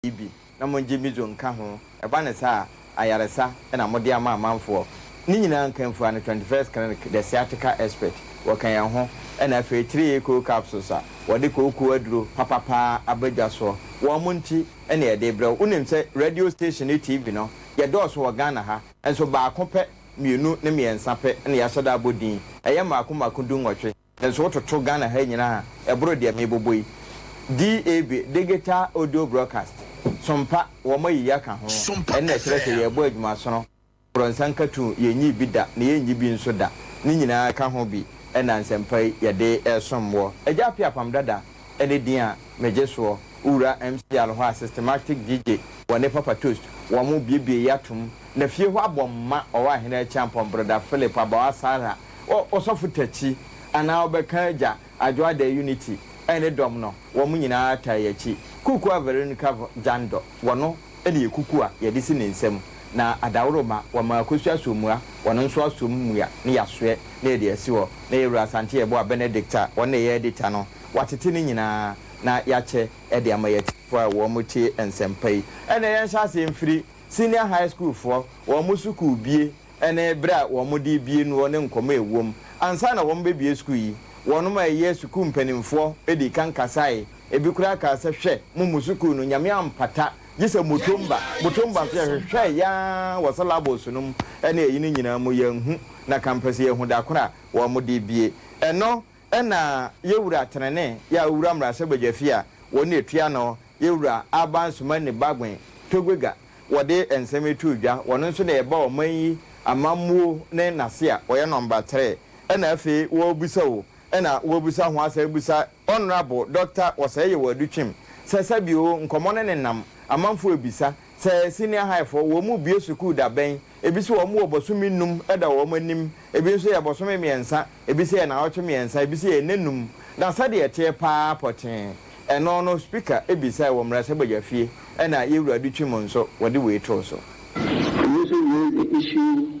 yi bi na mongye midzo nka ho, ɛba no saa a, ayaresa na mode ama amanfoɔ. Ne nyinaa nkanfua no Twenty First Clinic, the sciatica expert, wɔka yɛn ho, ɛna afei Three A Cold Capsules a wɔde kooko aduro papa paa aba dwa soɔ. Wɔn mo nti na yɛde brɛ wo. Wonim sɛ radio station ne TV no, yɛdɔɔso wɔ Ghana ha, nso baako pɛ, mmienu ne mmiɛnsa pɛ na yɛahyɛ da abɔ din. Ɛyɛ mmaako mmaako du nwɔtwe. Nanso wototo Ghana ha nyinaa a, ɛboro deɛ mebobɔ yi. DAB, Digital Audio Broadcast, Sompa, wɔayi yɛ aka ho. Sompa Ɛnna ɛkyerɛ sɛ FM. yɛrebɔ adwuma sono. Borɔnsa nkatoo, yɛnnyii bi da, na yɛrennyi bi nso da. Ne nyinaa ka ho bi na nsɛmpa yi yɛde resom woɔ. Agya Appiah Pam Dada ne din a megye soɔ. Wo wura MC Alho a Systematic DJ wɔ ne papa Toast, wɔn biebiee yɛ atom, na fie hɔ abɔ mma, ɔwɔ ahene Acheampong, Broda Philip, Abawa Sarah, Ɔ Ɔsɔfo Takyi anaa ɔbɛka Agya Adwoadan Unity ne dɔm no wɔn nyinaa taa yɛ akyi. Kukua Veronica Vɔ Gyandɔ wɔno na yɛ kuku a yɛde si ne nsa mu na Adaworoma wɔma Akosua Asommua wɔno nso asom mmua na yɛasoɛ na yɛde asi hɔ na Yɛwura Asante Yeboah Benedict a wɔno na ɛyɛ Edita no wɔatete ne nyinaa na yɛakyɛ de ama yɛ atiefo a wɔn tie nsɛmpa yi. Ɛnna yɛnhyɛ aseɛ mfiri Senior High School foɔ wɔn sukuu bie. ne bere a wɔde rebue noɔ ne nkɔmmɔ a ɛwom. Ansa na wɔrebɛbue sukuu yi, wɔnom a ɛyɛ sukuu mpanimfoɔ dii kan kasaeɛ. Ebi koraa kaa sɛ, Hwɛ, mo mo sukuu no, Nyame ampata gye sɛ Mutomba. Mutomba nso, yɛhwehwɛɛ yɛn ara wɔ syllabus no mu ne ayi no nyinaa mu, yɛanhu, na ka mpɛ sɛ yɛhu da koro a wɔde rebue. Ɛno Ɛna yɛ wura trenee yɛ a owura mmarahyɛbadwa fi a wɔn na ɛtua ano yɛ wura Aban Sumani Bagwen Togwega wɔde nsɛm yi too dwa wɔn nso na yɛba ɔman yi amammuo ne nase a wɔyɛ number tre ɛna afei wɔrebisa o ɛna wɔrebisa ho asan abisa Honourable Doctor Wɔsɛe Yewa Adutwim sɛ sɛbi o nkɔmmɔ no nenam amanfoɔ rebisa Sɛ senior high foɔ, wɔn rebue sukuu da bɛn? Ebi se wɔn wɔ bɔsome num da wɔn anim, ebi nso yɛ bɔsome mmiɛnsa, ebi se yɛ naawɔtwe mmiɛnsa, ebi se yɛ nnanum. Na sɛdeɛ ɛteɛ pa ara pɔtee, ɛno no Speaker bisae wɔ mmarahyɛbadwafie ɛna Yɛwura Adutwim nso wɔde wei too so. Ebi nso wei issue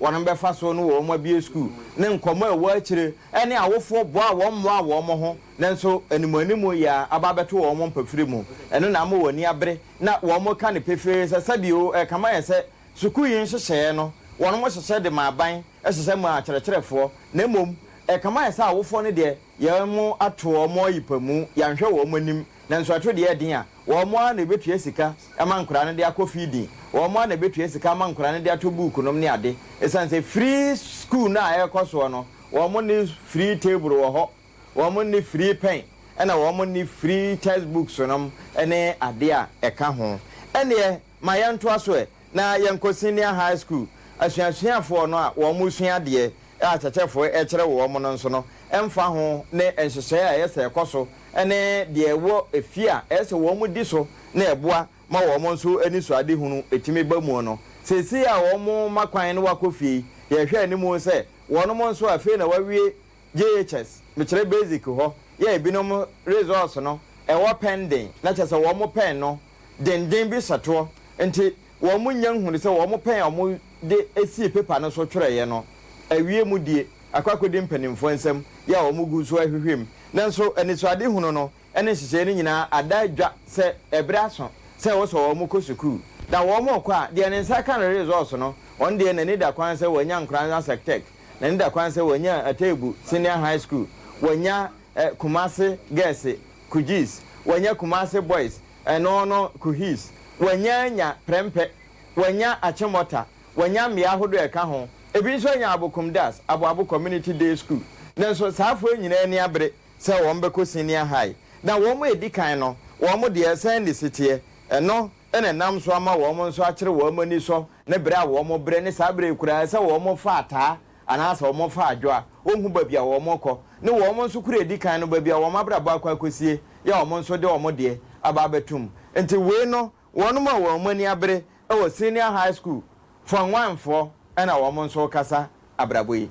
wɔn bɛfa so ne wɔn abue sukuu, ne nkɔmmɔ a ɛwɔ akyire ne awofoɔ boa a wɔmmoaa wɔn ho nanso animuanimu yea aba abɛto wɔn mpafiri mu. Ɛno na ama wɔn ani abere na wɔka no pefee sɛ sɛbio ɛkama yɛ sɛ sukuu yi nhyehyɛeɛ no wɔhyehyɛ de ma aban hyehyɛ ma akyerɛkyerɛfoɔ na mmom ɛkama yɛ sɛ awofoɔ no deɛ yɛato wɔn ayi pamu, yɛanhwɛ wɔn anim nanso ɛto deɛ ɛden a. Wɔn ara na ebetua sika ama nkwadaa no de akɔ feeding. Wɔn ara na ebetua sika ama nkwadaa no de atɔ buukunom ne ade. Esiane sɛ free sukuu no a ɛrekɔ soɔ no, wɔnni free table wɔ hɔ, wɔnni free pɛn, ɛna wɔnni free textbooks nom ne adeɛ a ɛka ho. Ɛnneɛ. Ma yɛntoa so ɛ na yɛnkɔ senior high school asuasuafoɔ no a wɔn resua adeɛ a kyɛkyɛfoɔ rekyerɛ wɔn no nso no ɛmfa ho ne nhyehyɛeɛ a ɛyɛ sɛ ɛkɔ so ne deɛ ɛwɔ efie a ɛyɛ sɛ wɔn di so na ɛboa ma wɔn nso anisoadehunu tumi ba mu no seesei a wɔn ma kwan na wɔakɔ fie yi yɛhwɛ anim sɛ wɔn nso afei na wɔawie JHS mekyerɛ basic hɔ yɛ ebinom results no ɛwɔ pɛn den na kyerɛ sɛ wɔn mo pɛn no denden bi hyɛtoɔ nti wɔn mo nya nhunu sɛ wɔn mo pɛn a wɔn de sii paper no so twerɛeɛ no awie mu die akɔ akɔdi mpanimfoɔ nsam yɛ a wɔn gu so ahwehwɛ mu nanso anisoadehunu no ne nhyehyɛe no nyinaa ada edwa sɛ ɛbere aso sɛ wɔsɔ wɔn kɔ sukuu. Na wɔn rekɔ a, deɛ ne nsa ka no resɔɔso no, wɔn deɛ n'ani da kwan sɛ wɔanya Nkoranza Sectec, n'ani da kwan sɛ wɔanya Atebu Senior High School, wɔanya eh, Kumasi Girls, Kujis, wɔanya Kumasi Boys, ɛno eh, no Kuhis, wɔanya anya Prɛmpɛ, wɔanya Achimota, wɔanya mmea ahodoɔ a ɛka ho, ebi nso anya Abokum Das, Aboabo Community Day School. Nanso saa afoɔ yi nyinaa ani abere. sɛ wɔn bɛkɔ senior high na wɔn a ɛdi kan no wɔn deɛ sɛn ne siteɛ, ɛno na ɛnam so ama wɔn nso akyere wɔn ani sɔ ne berɛ a wɔn brɛ ne saa berɛ yi koraa sɛ wɔn fa ataa anaasɛ wɔn fa adwo a wɔn hu baabi a wɔn rekɔ ne wɔn nso kura ɛdi kan no baabi a wɔn abrabɔ akɔ akɔsie yɛ wɔn nso de wɔn deɛ aba abɛtom nti wei no Wɔnom a wɔn ani abere wɔ senior high school form one foɔ na wɔnom nso rekasa abrabɔ yi.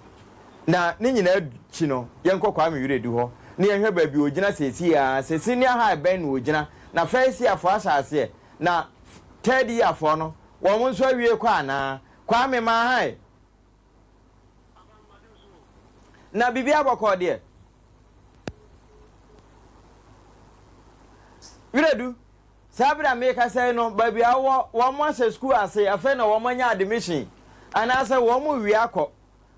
Na ne nyinaa akyi no yɛnkɔ Kwame Wiredu hɔ na yɛnhwɛ baabi ɔgyina seesei ara, sɛ senior high bɛn na ɔgyina, na first year foɔ ahyɛ aseɛ, na third year foɔ no wɔnom nso awie kɔ anaa. Kwame Maahae! Na biribiara bɔkɔɔ deɛ. Wiredu, saa berɛ a merekasa yi no, baabi a wowɔ, wɔn ahyɛ sukuu ase, afei na wɔn anya admission, anaasɛ wɔn rewie akɔ,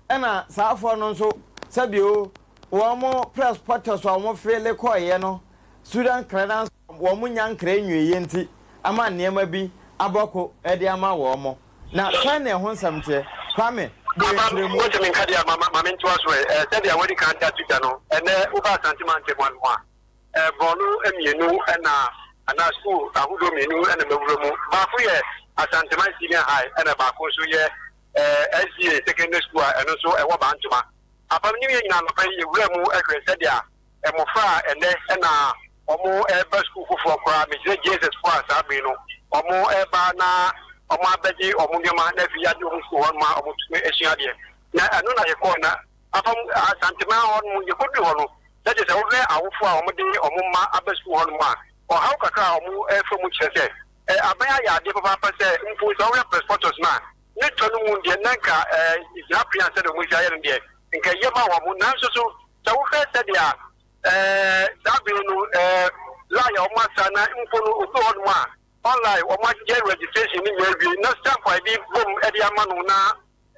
ɛna saa afoɔ no nso, sɛbio wɔn press pɔtɔ so a wɔfeele kɔeɛ no, student credence, wɔn nya nkra nwieɛ nti ama nneɛma bi abɔ ko de ama wɔn. Na sɛn na ɛho nsɛm teɛ? Kwame, bɔ yɛn nkyerɛmu. Mose menka deɛ a, ma mentoa so ɛ. Sɛdeɛ wɔadi kan da to dwa no, ɛnnɛ woba Asante mantam ano a, borɔno mmienu na, anaa sukuu ahodoɔ mmienu na mawura mu. Baako yɛ Asanteman Senior High ɛna baako nso yɛ SDA Secondary School a ɛno nso ɛwɔ Bantoma. Apam New Year nyina anɔpa yi yɛwuraa mu hwɛɛ sɛdeɛ mmofra a ɛnnɛ na wɔreba sukuu foforɔ koraa, mesrɛ JSS foɔ a saa bere no wɔreba na wɔabɛgye wɔn nneɛma na afei yɛagye wɔn sukuu hɔ ma wɔtumi asua adeɛ. Na ɛno na yɛkɔɔ na afa mu Asantema hɔ no yɛkɔduru hɔ no, na kyerɛ sɛ wohwɛ awofoɔ a wɔde wɔn mma aba sukuu hɔ nom a, ɔhaw kakra a wɔrefa mu kyerɛ sɛ aban ayɛ adeɛ papaapa sɛ mpo sɛ wohwɛ Press Photos no a, ne tɔ no mu deɛ, na anka ɛɛ gyinapea sɛdeɛ wɔn nhyia yɛ no deɛ, nka ɛyɛ ma wɔn. Nanso so, sɛ wohwɛ sɛdeɛ ɛɛ saa bere no ɛɛ line a wɔn asa na mpo no obi wɔ hɔnom a online wɔn ayɛ registration ne nyinaa awie na stamp a yɛde bom de ama no na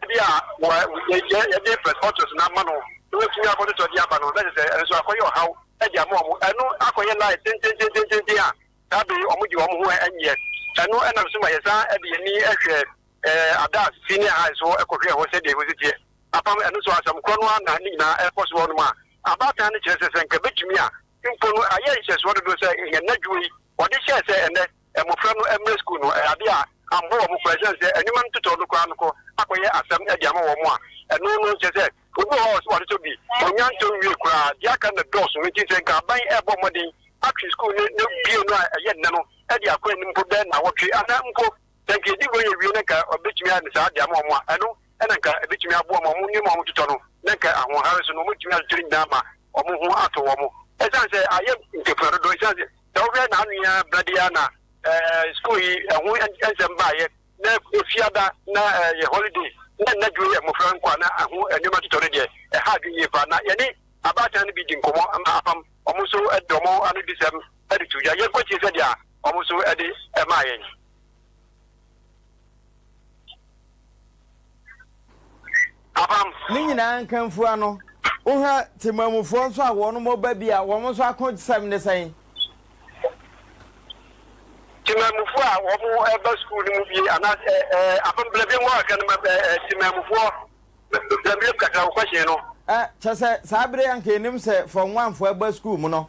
ebi a wɔ yɛ yɛde press photos na ama no na wɔatumi akɔtotɔ de aba no na kyerɛ sɛ ɛno nso akɔyɛ ɔhaw de ama wɔn ɛno akɔyɛ line tententententen a Dabi, wɔde wɔn ho nyɛ. Ɛno na nso ma yɛsan de yɛn ani hwɛ Adas Senior High so kɔhwɛɛ hɔ sɛdeɛ ɛhɔ si teɛ. Apam ɛno nso, asɛm korɔ no ara na ne nyinaa ɛrekɔ so wɔ hɔnom a abaatan no kyerɛ sɛ, sɛ anka ɛbɛtumi a, mpo no ayɛ nhyɛsoɔ dodo sɛ yɛn nnadwuma yi wɔde hyɛɛ sɛ ɛnnɛ mmɔfra no mmra sukuu no, ɛyɛ adeɛ a ammɔ wɔn kwa, ɛsiane sɛ nnwuma no totɔɔ no koraa no kɔ akɔyɛ asɛm de ama wɔn a ɛno no kyerɛ sɛ Obi wɔ hɔ a, ɔse watotɔ bi, ɔnnya ntɔ nwie koraa. Deɛ aka no na dɔɔso. Enti sɛ nka aban rebɔ mmɔden atwe sukuu no no bue no a, ɛyɛ nnɛ no de akɔ anim mpo bɛyɛ nnawɔtwe anaa mpo sɛ nka yɛdi nkɔyɛ wie no nka wɔbɛtumi ayɛ no saa de ama wɔn a, ɛno na nka ɛbɛtumi aboa ma wɔn nneɛma a wɔtotɔ no na nka ahoɔhare so no wɔbɛtumi akyekyere nyinaa ama wɔn ho atɔ wɔn. Ɛsiane sɛ ayɛ ntafua dodo, ɛsiane sɛ sɛ wohwɛ na ano yi ara berɛ de ara na ɛɛ sukuu yi ɛho nsɛm baeɛ. na fiada na ɛyɛ holiday na nna duro yɛ mmofra nkwa na ɛho nneɛma totɔ no deɛ ɛha adwene yie paa na yɛne abaatan no bi di nkɔmmɔ ma apam wɔn nso de wɔn anodisɛm de to dwa yɛnkɔtie sɛdeɛ wɔn nso de maa yɛn. Ne nyinaa nkamfua ano. Wohwɛ Temamufoɔ nso a wɔn mo ba bi a, wɔn nso ako sɛm ne sɛn? Temamufoɔ a wɔn mo ba sukuu no mu bi anaa sɛ ɛɛ apam bla biam wɔn kan ma ɛɛ Temamufoɔ bla biam kakra wɔ kɔhyɛn no. Ɛ kyɛ sɛ saa bere anka enim sɛ fɔm wanfoɔ ba sukuu mu no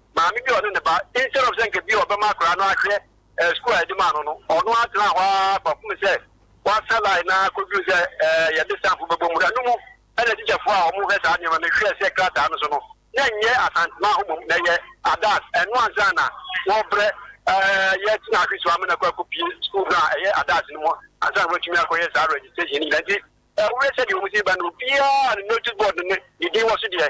maame bi a ɔne ne ba, instead of sɛ nka bi a ɔbɛma akwadaa no ahwɛ ɛɛ sukuu a yɛde maa no no, ɔno ara tena hɔ ara kɔpem sɛ wasa line no ara kɔduru sɛ ɛɛ yɛde stampfo bɛbɔ mu. Ɛno mu na tikyafoɔ a wɔhwɛ saa nneɛma no hwɛɛ sɛ krataa no so no, na ɛnyɛ Asantema hɔ mmom, na ɛyɛ Adas. Ɛno ansa na wɔrebrɛ ɛɛ yɛ tena ahwe so ama no akɔ akɔpie sukuu no a ɛyɛ Adas no mu ansa na wɔatumi akɔyɛ saa registration no nyinaa. Nti, ɛwɔ sɛdeɛ wɔn si ba no, obiara ne notice board no ne din wɔ so deɛ,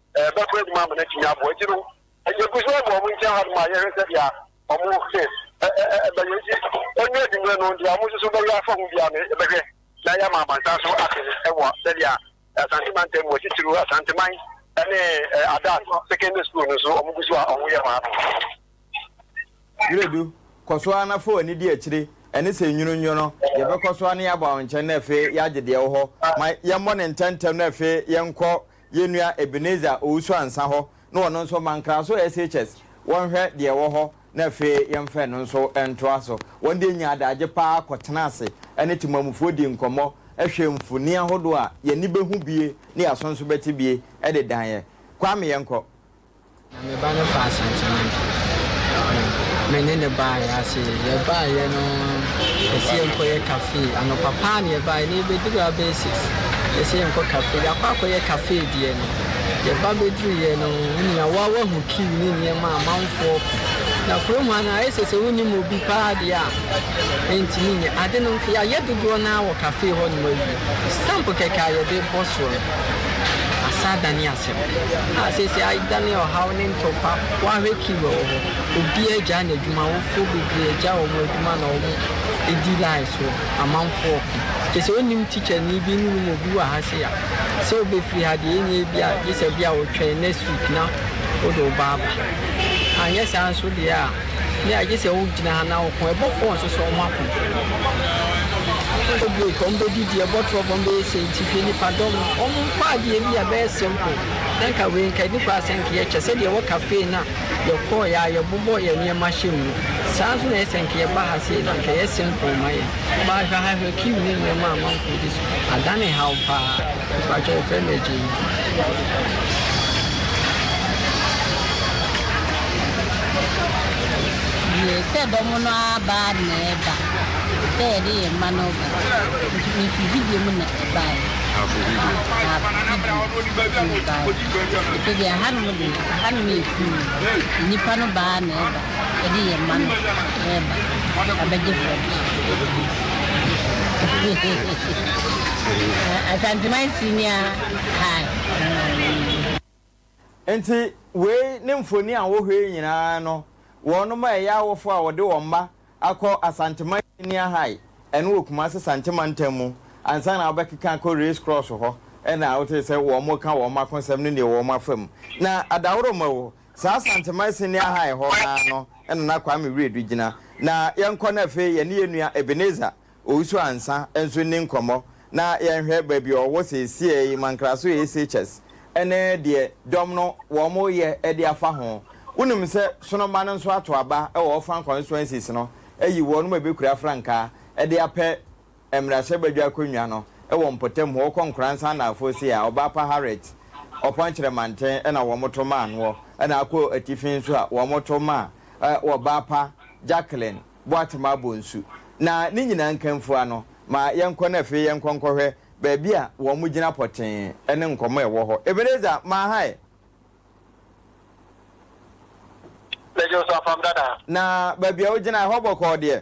Ɛbɛkɔ anim ama no atumi aboa. Nti no, yɛgu so wɔ wɔn nkyɛn hɔnom a yɛhwɛ sɛdeɛ wɔn bɛyɛ. Nti ɛnyɛ anwummerɛ no, deɛ wɔn nso bɛyɛ afa ho biara no, yɛbɛhwɛ na yɛama amansan so ate wɔ sɛdeɛ Asante mantam mu, titiriw Asanteman ne Adas Secondary School no nso wɔgu so a wɔyɛ wɔ ha no. Wiredu, kɔ so ara na fa w'ani di akyire, ɛne sɛ nwunu nnwo no, yɛbɛkɔ so ara na yɛaba wo nkyɛn na afei yɛagye deɛ ɛwɔ hɔ. Ma yɛmmɔ no ntɛmntɛm na afei yɛnkɔ yɛn nua Ebenezer Owusu-Ansah hɔ na ɔno nso ma Nkraso SHS wɔnhwɛ deɛ ɛwɔ hɔ na afei yɛmfa ɛno nso ntoa so. Wɔn deɛ nyaa adagye pa ara kɔtenaa ase ne temamufoɔ dii nkɔmmɔ, hwɛɛ mfonin ahodoɔ a yɛn ani bɛhu bie ne yɛn aso nso bɛte bie de dan yɛn. Kwame, yɛnkɔ. Na me ba no faa santeman na me ne no baeɛ ase. Yɛbaeɛ no, yɛse yɛnkɔyɛ cafe. Anɔpa paa na yɛbaeɛ na yɛbɛduruu a bɛyɛ six. Yɛse yɛnkɔ cafe. Yɛakɔ akɔyɛ cafe deɛ no, yɛba bɛduruiɛ no, wo nua wo ara woahu queue ne nneɛma a amanfoɔ ko. Na kurom ha no ayɛ sɛ sɛ wonnim obi paa deɛ a, ɛntumi nyɛ. Ade no nso, yɛayɛ dodoɔ no ara wɔ cafe hɔnom awie. Stamp kɛkɛ a yɛde bɔ soɔ no, asa adane asɛm. a seesei adane ɔhaw ne ntɔkwa. Woahwɛ Kiiwa wɔ hɔ, obiara agyae n'adwuma, awofoɔ bebree agyae wɔn adwuma na wɔredi line so, amanfoɔ reko. Kyerɛ sɛ wonnim tikyani bi nnim obi wɔ ha sei a, sɛ wobɛfiri ha deɛ ɛnyɛ bi a gye sɛ bi a wotwɛn next week na wode wo ba aba. Anyɛ saa nso deɛ a. Nea agye sɛ wogyina ha na woko, ɛbɔfoɔ nsosɔ wɔn ako. Wɔbɛbɔ break, wɔbɛdidi, ɛbɔ trɔk, wɔbɛyɛ sei nti hwɛ nipa dɔm no. Wɔn mfa adeɛ bi a ɛbɛyɛ simple na nka wei nka ɛdi koraa sɛ nka yɛkyɛ sɛdeɛ ɛwɔ cafe na yɛkɔɔeɛ a yɛbobɔ yɛn nneɛma hyɛ mu no. Saa ara nso na ɛyɛ sɛ nka yɛba ha sei na nka ɛyɛ simple ma yɛn. Ba hwɛ ha, hwɛ queue ne nneɛma a amanfoɔ di so. Adane haw paa. Mpakyɛw yɛfrɛ no agya yi. Yie sɛ dɔm no aba na ɛba sɛ yɛde yɛn mma no ba nti mefi video mu na ɛbae afo video afo video ɛbae ɛfɛ deɛ ahanom deɛ ahanom yɛ fuu nnipa no baa na ɛba yɛde yɛn mma no reba abɛgye frɔde. Asanteman Senior High. Enti wei ne mfoni a wohwɛ yi nyinaa no, wɔnom a ɛyɛ awofo a wɔde wɔn mma akɔ Asanteman Senior High, ɛno wɔ Kumase Sante Mantam mu, ansa na wobɛkeka akɔ Race Cross hɔ na wotee sɛ wɔreka wɔn akonsɛm ne nea ɛwɔ wɔn afa mu. Na Adaworoma o, Saa Asanteman Sini Ahan hɔ ara no na na Kwame Wiredu gyina. Na yɛnkɔ na afei yɛne yɛn nua Ebenezer Owusu-Ansah nso nni nkɔmmɔ na yɛnhwɛ baabi a ɔwɔ seesei, Mankraso ACHS, ne deɛ dɔm no wɔreyɛ de afa ho. Wonim sɛ Sonoma no nso ato aba wɔ Orfan constituencies no ayi wɔnom a ɛbɛkura frankaa de apɛ mmarahyɛbadwa akonnwa no wɔ mpɔtam hɔ kɔ Nkoransan Naafoɔ Sei a Ɔbaa pa Harriet Ɔpɔnkyerɛ Manten na wɔto maa noɔ na akɔ atifi nso a wɔto maa Ɔbaa pa Jacqueline Boatema Bonsu na ne nyinaa nkanfua no ma yɛnkɔ na afei yɛnkɔ nkɔhwɛ baabi a wɔgyina pɔtee ne nkɔmmɔ a ɛwɔ hɔ Ebenezer Maahae Mɛgye wo so afam dada. Na baabi a wogyina hɔ bɔkɔɔ deɛ.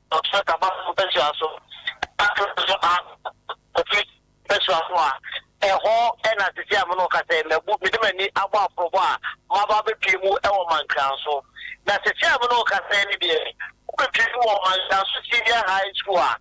Ɔkyerɛ Tabaso mpasua so na ɔka so a, Kofi mpasua so a, ɛhɔ na sisi a me ne wo kasa yi mabu, mede m'ani abɔ aporɔbɔ a maba abɛpue mu wɔ Mankransõ. Na sisi a me ne wo kasa yi no deɛ, wobɛpue mu wɔ Mankransõ Senior High School a,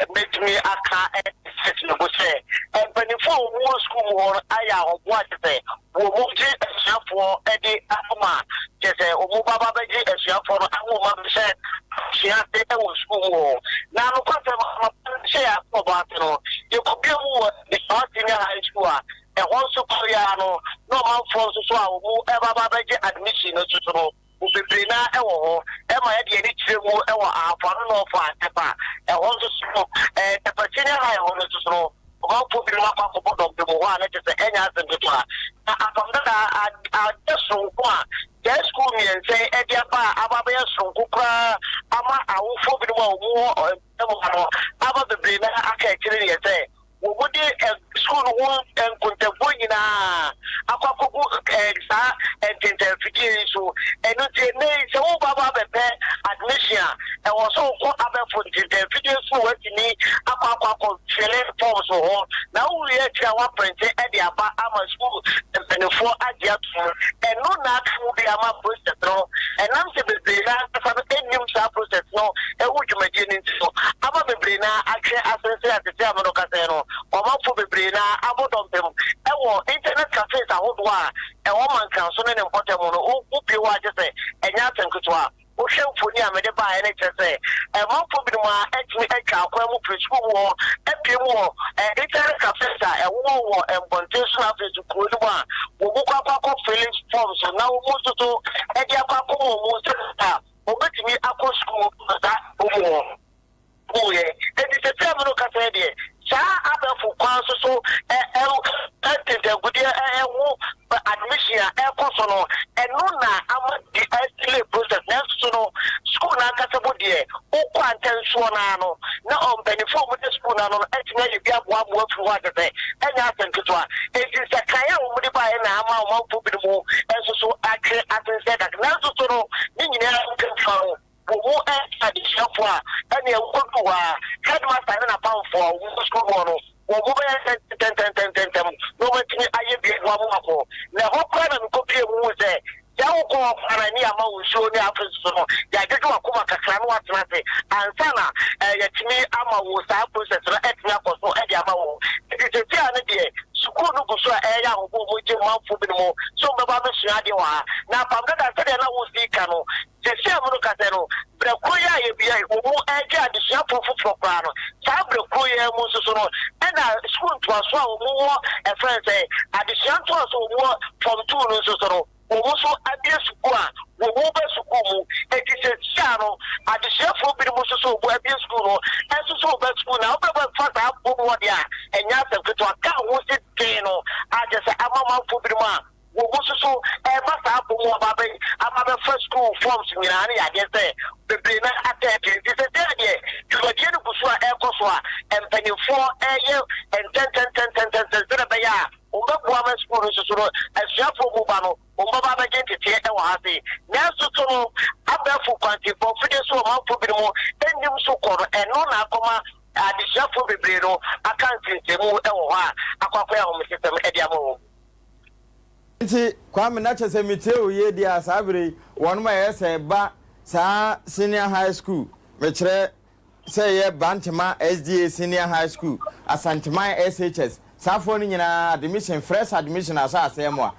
mɛtumi aka akyerɛ Sɛtnɛbo sɛ, mpanimfoɔ a wɔwɔ sukuu mu hɔ no ayɛ ahoboa kyɛ sɛ Wɔgye asuafoɔ de ahoma a, kyerɛ sɛ wɔbɛba abɛgye asuafoɔ no ahoma bɛhyɛ abusua ase wɔ sukuu mu hɔ. Na nokwasɛm no, anɔpa no hyɛ yɛn asoɔbɔ ase no, yɛkɔbia mu wɔ Desawa Senior High School a ɛhɔ nso kɔre ara no na ɔmanfoɔ nso so a wɔreba abɛgye admission no nso so no, mu bebree no ara wɔ hɔ ma yɛde yɛn ani kyerɛ mu wɔ ahafo ano ne ɔfã ntɛpa a ɛhɔ nso so no. Ntɛpa Senior High hɔ no nso so no, ɔmanfoɔ binom akɔ akɔbɔ dɔmpem wɔ hɔ a na kyerɛ sɛ ɛnyɛ asɛm ketewa. Na Apam Dada anyɛ soronko a saa sukuu mmiɛnsa yi de aba a aba abɛyɛ soronko koraa ama awofoɔ binom a wɔwɔ mpɔtam ha no, aba bebree no ara aka akyire deɛ sɛ, wɔde sukuu no ho nkontabuo nyinaa akɔ akɔgu saa ntentanfidie yi so. Ɛno nti, ɛnnɛ yi sɛ woreba aba abɛpɛ admission a, ɛwɔ sɛ wokɔ abɛfo ntentanfidie so na woatumi akɔ akɔ akɔ fele forms wɔ hɔ. Na wowieɛ akyire a, woaprente de aba ama sukuu mpaninfoɔ agye atom. Ɛno na aka mu bi ama process no, ɛnam sɛ bebree no ara ankasa no nnim saa process no ho dwumadie no nti no, ama bebree no ara atwe asen sɛ tete amono kasɛɛ no. Ɔmanfoɔ bebree no ara abɔ dɔmpem wɔ internet cafes ahodoɔ a ɛwɔ Mankaso ne ne mpɔtam no ho bio a gye sɛ ɛnyɛ asɛm ketewa. Wohwɛ mfoni a mede baeɛ no kyerɛ sɛ manfoɔ binom ara atumi atwa akwan mu firi sukuu mu hɔ apue mu wɔ internet cafes a ɛwowɔ wɔ mmɔnten so na afei nso kuro no mu a wɔkɔ akɔ akɔ fili forms na wɔn nso so de akɔ akɔma wɔn sɛdeɛ a wɔbɛtumi akɔ sukuu wɔ saa kuro mu hɔ. guuɛ. Enti seesei meno ka sɛ deɛ saa abɛɛfo kwan so so ntintankudeɛ ho admission a ɛrekɔ so no, ɛno na ama de adelay process. Nanso so no, sukuu no ankasa mu deɛ, wokɔ a ntɛnsoɔ no ara no na mpaninfoɔ a wɔda sukuu no ano no atumi ayɛ bi aboa mmoa afiri hɔ a kyerɛ sɛ ɛnyɛ asɛm ketewa. Enti nsakraeɛ a wɔde baeɛ na ama ɔmanfoɔ binom nso so atwe ase nsɛe kakra. Nanso so no, ne nyinaa mu kɛmfã no, Wo ho nte adesuafo a, ɛnneɛ wukodu hɔ ara, headmaster ne n'apamfo a wɔwɔ sukuu hɔ no, wɔn ho bɛyɛ ntɛntɛntɛntɛntɛm, na wɔatumi ayɛ biribi ho ahomaso. Na ɛhɔ koraa na mikopuee mu hui sɛ, sɛ wokɔ hɔ koraa na ani amma wo nsuo ne afes so no, yɛadwodwo w'akoma kakra na woatena ase ansa na yɛatumi ama wo saa process no atumi akɔ so de ama wo. Enti seesei ara no deɛ, sukuu no gu so a ɛreyɛ ahobow, mogye manfo binom sɛ wɔbɛba abɛsua adeɛ wɔ ha. Na apam dada, sɛdeɛ na wosi ka no, Sɛsi a morekasa yi no, berɛ korɔ yi a yɛbea yi wɔn regye adesuafoɔ foforɔ koraa no, saa berɛ korɔ yi ara mu nso so no, ɛna sukuu ntoasoɔ a wɔn wɔ ɛfrɛ no sɛn, adesua ntoasoɔ a wɔn wɔ Form Two no nso so no, wɔn nso abue sukuu a wɔn reba sukuu mu. Enti sɛsi a no, adesuafoɔ binom nso so wɔn abue sukuu no nso so reba sukuu, na wobɛfa saa bɔ mu hɔ deɛ a, ɛnyɛ asɛm ketewa. Ka ho si den no ara kyerɛ sɛ, amamamfoɔ binom a Woguso so reba saa apɔ mu aba abɛ aba abɛfa sukuu forms nyinaa ne yadeɛ sɛ bebree no atɛ akyire nti sɛsɛ a deɛ dwumadie no guso a ɛrekɔ so a mpaninfoɔ reyɛ ntɛntɛntɛntɛntɛntɛn sɛdeɛ ɛbɛyɛ a wɔn bɛboa ama sukuu no nso so no asuafoɔ mu ba no wɔn bɛba abɛgye nteteɛ ɛwɔ ha se nanso so no abɛɛfo kwansifoɔ fidie so ɔmanfoɔ binom nnim so kɔ no ɛno na akɔma adesuafoɔ bebree no aka nsensɛmu ɛwɔ hɔ a akɔ akɔyɛ ahomesesɛm ɛde ama wɔn. Ntsi Kwame, na kyerɛ sɛ metsie wo yie deɛ a, saa berɛ yi wɔn ma yɛ sɛ ba saa senior high school, mekyerɛ sɛ yɛ Bantema SDA senior high school, Asanteman SHS, saa foɔ no nyinaa admission, fresh admission ahyɛ aseɛ moa.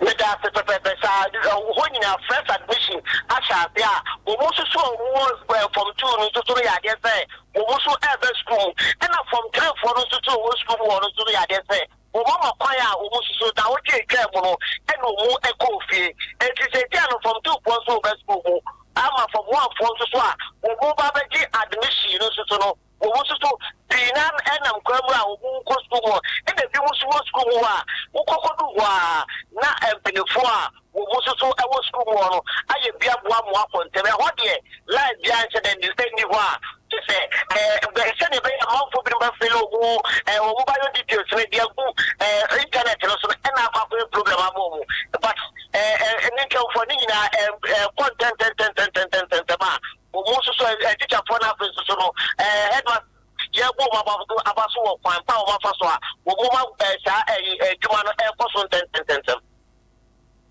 Meda ase pɛpɛɛpɛ saa hɔ nyinaa fresh admission ahyɛ ase a wɔn nso a wɔn wɔ form two no nso no yɛ adeɛ sɛ wɔn nso ɛɛba sukuu mu ɛna form three foɔ no nso a wɔn wɔ sukuu mu wɔn nso no yɛ adeɛ sɛ wɔn ama kwan a wɔn nso so daawɔtwe atwa mu no ɛna wɔn ɛkɔ ofie eti sɛ tia no form two foɔ nso wɔba sukuu mu ama form one foɔ nso so a wɔn ba bɛgye admission no nso so no. Wɔ mu nso so, pii no ara nam kwan mu a wɔn mu kɔ sukuu mu hɔ, ɛnna ebinom nso wɔ sukuu mu hɔ a wokɔ kodu hɔ ara na mpanyimfoɔ a wɔn mu nso so wɔ sukuu mu hɔ no ayɛ bi aboa mo akɔ ntɛm. Ɛhɔ deɛ, line biara nhyɛ da nni hɔ a gye sɛ ɛɛ sɛdeɛ ɛbɛyɛ a amanfoɔ binom bɛfele wɔn ɛɛ wɔn bio details no de agu ɛɛ internet no so no ɛnna akɔ akɔyɛ problem ama wɔn. But ɛɛ ɛɛ ne nkramofoɔ ne nyinaa ɛɛ ɛɛ kɔ ntɛntɛntɛntɛntɛntɛntɛm a Wɔ mu nso so, eh, tikyafoɔ na afei nso so no, eh, headmaster yɛ bɔ wɔn aba, aba so wɔ kwan pa a wɔn afa so a wɔn mu ma eh, saa eh, adwuma eh, no ɛkɔ so ntɛntɛntɛntɛm.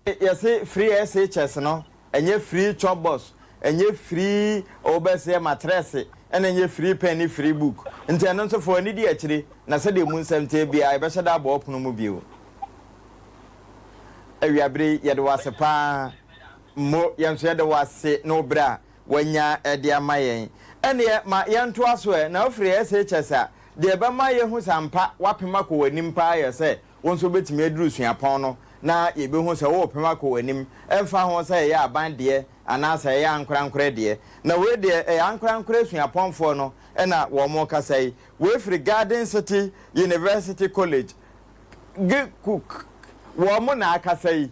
Yɛse free SHS no, ɛnyɛ free chop box, ɛnyɛ free ɔbɛsɛ matrɛse, ɛna ɛnyɛ free pen ne free book. Nti ɛno nso fo ani di akyire na sɛdeɛ mu nsɛm teɛ biara yɛbɛhyɛ da abɔ ɔpono mu bio. Awiabere yɛde wɔ ase paa. Mo, yɛn nso yɛda wo ase ne wo berɛ a woanya de ama yɛn. Ɛnneɛ ma yɛntoa so ɛ, na afiri SHS a, deɛ ɛbɛma yɛahu sɛ ampa woapem akɔ w'anim pa ara yɛ sɛ wo nso wobɛtumi aduru suapɔn no, na yɛbɛhu sɛ worepem akɔ w'anim, ɛmfa ho sɛ ɛyɛ aban deɛ anaasɛ ɛyɛ ankorankorɛ deɛ. Na wei deɛ, ɛyɛ ankorankorɛ suapɔnfoɔ no na wɔrekasa yi. Wei firi Garden City University College, GCUC, wɔn na akasa yi.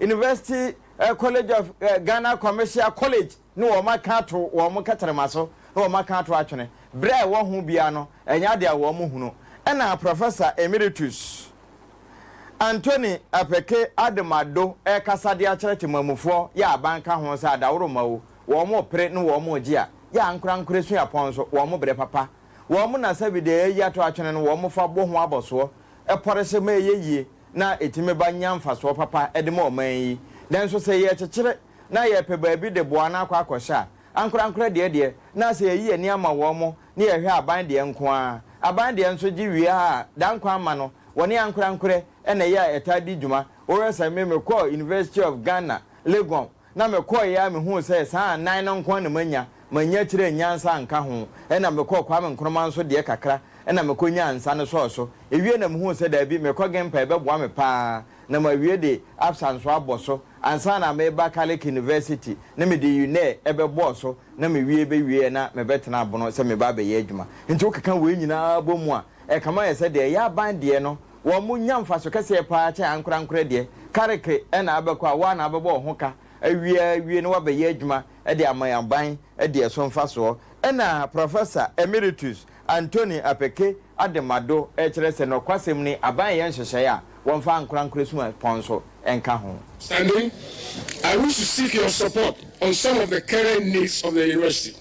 University College of Ghana Commercial College ne wɔn aka ato wɔn nkɛterɛma so ne wɔn aka ato atwene berɛ a ɛwɔ ho biara no ɛnyɛ adeɛ a wɔn hunu ɛna Professor Emeritus Anthony Apeke Adam Addo ɛkasa de akyerɛ temamufoɔ yɛ aban ka ho sɛ adaworoma o wɔn pere ne wɔn gye a yɛ ankorankorɛ suapɔn nso wɔn brɛ papa wɔn na sɛbi deɛ yɛayi ato atwene no wɔn fa bɔ ho abɔsoɔ pɔre sɛ ma ɛyɛ yie na ɛtumi ba nya mfasoɔ papa de ma ɔman yi. Nanso sɛ yɛrekyekyere na yɛrepɛ baabi de boa no akɔ akɔhyɛ a, ankorankorɛ deɛ deɛ na sɛ yɛyi yɛn ani ama wɔn na yɛhwɛ aban deɛ nko ara. Aban deɛ nso gye wie a daa nkwa mma no, wɔne ankorankorɛ na ɛyɛ a ɛtaa di dwuma. Wohwɛ sɛ me mekɔɔ University of Ghana, Legon, na mekɔeɛ ara mehuu sɛ saa nnan no nko ara na manya, mannya kyerɛɛ nyansa anka ho, ɛnna mekɔɔ Kwame Nkrumah nso deɛ kakra, ɛnna mekɔnyaa nsa no sɔɔ so. Ewiei na mehuu sɛ daabi, mekɔ Gimpa ɛbɛboa me pa ara na mawie de Absa nso abɔ so ansa na mereba Calic University na mede UNEER bɛbɔɔ so na mewie bɛwieɛ na mebɛtena Bono sɛ mereba abɛyɛ adwuma. Nti wokeka wei nyinaa bɔ mu a, ɛkama yɛ sɛ deɛ ɛyɛ aban deɛ no Wɔnya mfaso kɛseɛ pa ara kyɛn ankorankorɛ deɛ. Kareke na abɛkɔ a, wo ara na wobɛbɔ wo ho ka awie ara awie na woabɛyɛ adwuma de ama yɛn aban de ɛso mfasoɔ. Ɛna Professor Emeritus Anthony Apeke Ademado rekyerɛ sɛ nokwasɛm ni, aban reyɛ nhyehyɛeɛ a wɔmfa ankorankorɛ suapɔn nso nka ho. Standing, I wish to seek your support on some of the current needs of the University.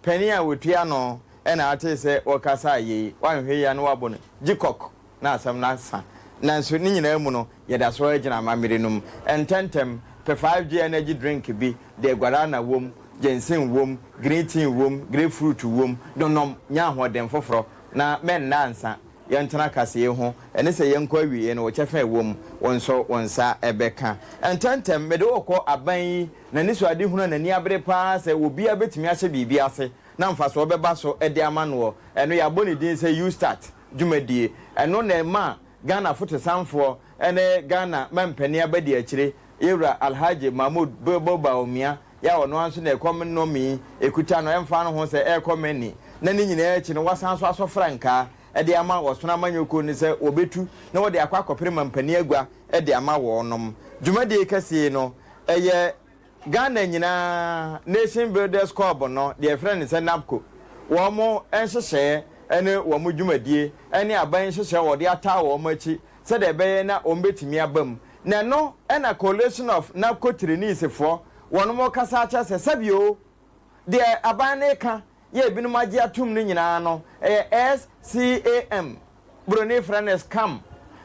Panin a ɔtua ano na ate sɛ ɔkasa a yei, wanhwɛ yie a na wabɔ no gyikɔk na asɛm no asa. Nanso ne nyinaa mu no, yɛda so ara gyina amammerɛ no mu. Ntɛntɛm, Pefaa dwe energy drink bi de guarana wom, ginseng wom, green tea wom, grapefruit wom no nom, nya ahoɔden foforɔ, na mɛnna ansa. Yɛntena kaseɛ ho, ɛne sɛ yɛnkɔ awieeɛ no wo kyɛfa a ɛwom, wo nso wo nsa bɛka. Ntɛntɛm, mede wo rekɔ aban yi n'anisoadehunu a n'ani abere pa ara sɛ obiara betumi ahyɛ biribi ase na mfaso bɛba so de ama no ɔ, ɛno yɛabɔ ne din sɛ Ustart dwumadie. Ɛno na ɛma Ghana fotosanfoɔ ne Ghana mampanin abadiakyire, Yɛwura Alhaji Mahmood Bilbo Bawumia, yɛ a ɔno ara nso na ɛkɔm nnɔmii kuta no ɛmfa ho sɛ ɛrekɔ Mani na ne nyinaa akyi no wasan nso asɔ frankaa de ama ɔsono amanyɔkuo no sɛ wɔbɛtu na wɔde akɔ akɔpere mampanin agua de ama wɔnom. Dwumadie kɛseɛ yi no, ɛyɛ Ghana nyinaa Nation Builders Corp no, deɛ yɛfrɛ no sɛ NABCO, wɔn nhyehyɛeɛ ne wɔn dwumadie ne aban nhyehyɛeɛ a wɔde ataa wɔn akyi sɛdeɛ ɛbɛyɛ na wɔbɛtumi aba mu. Na ɛno na Coalition of NABCO Trainees foɔ wɔnom rekasa akyerɛ sɛ sɛbi o, Deɛ aban no reka yɛ ebinom agye atom no nyinaa no, ɛyɛ SCAM, Buroni frɛ no scam,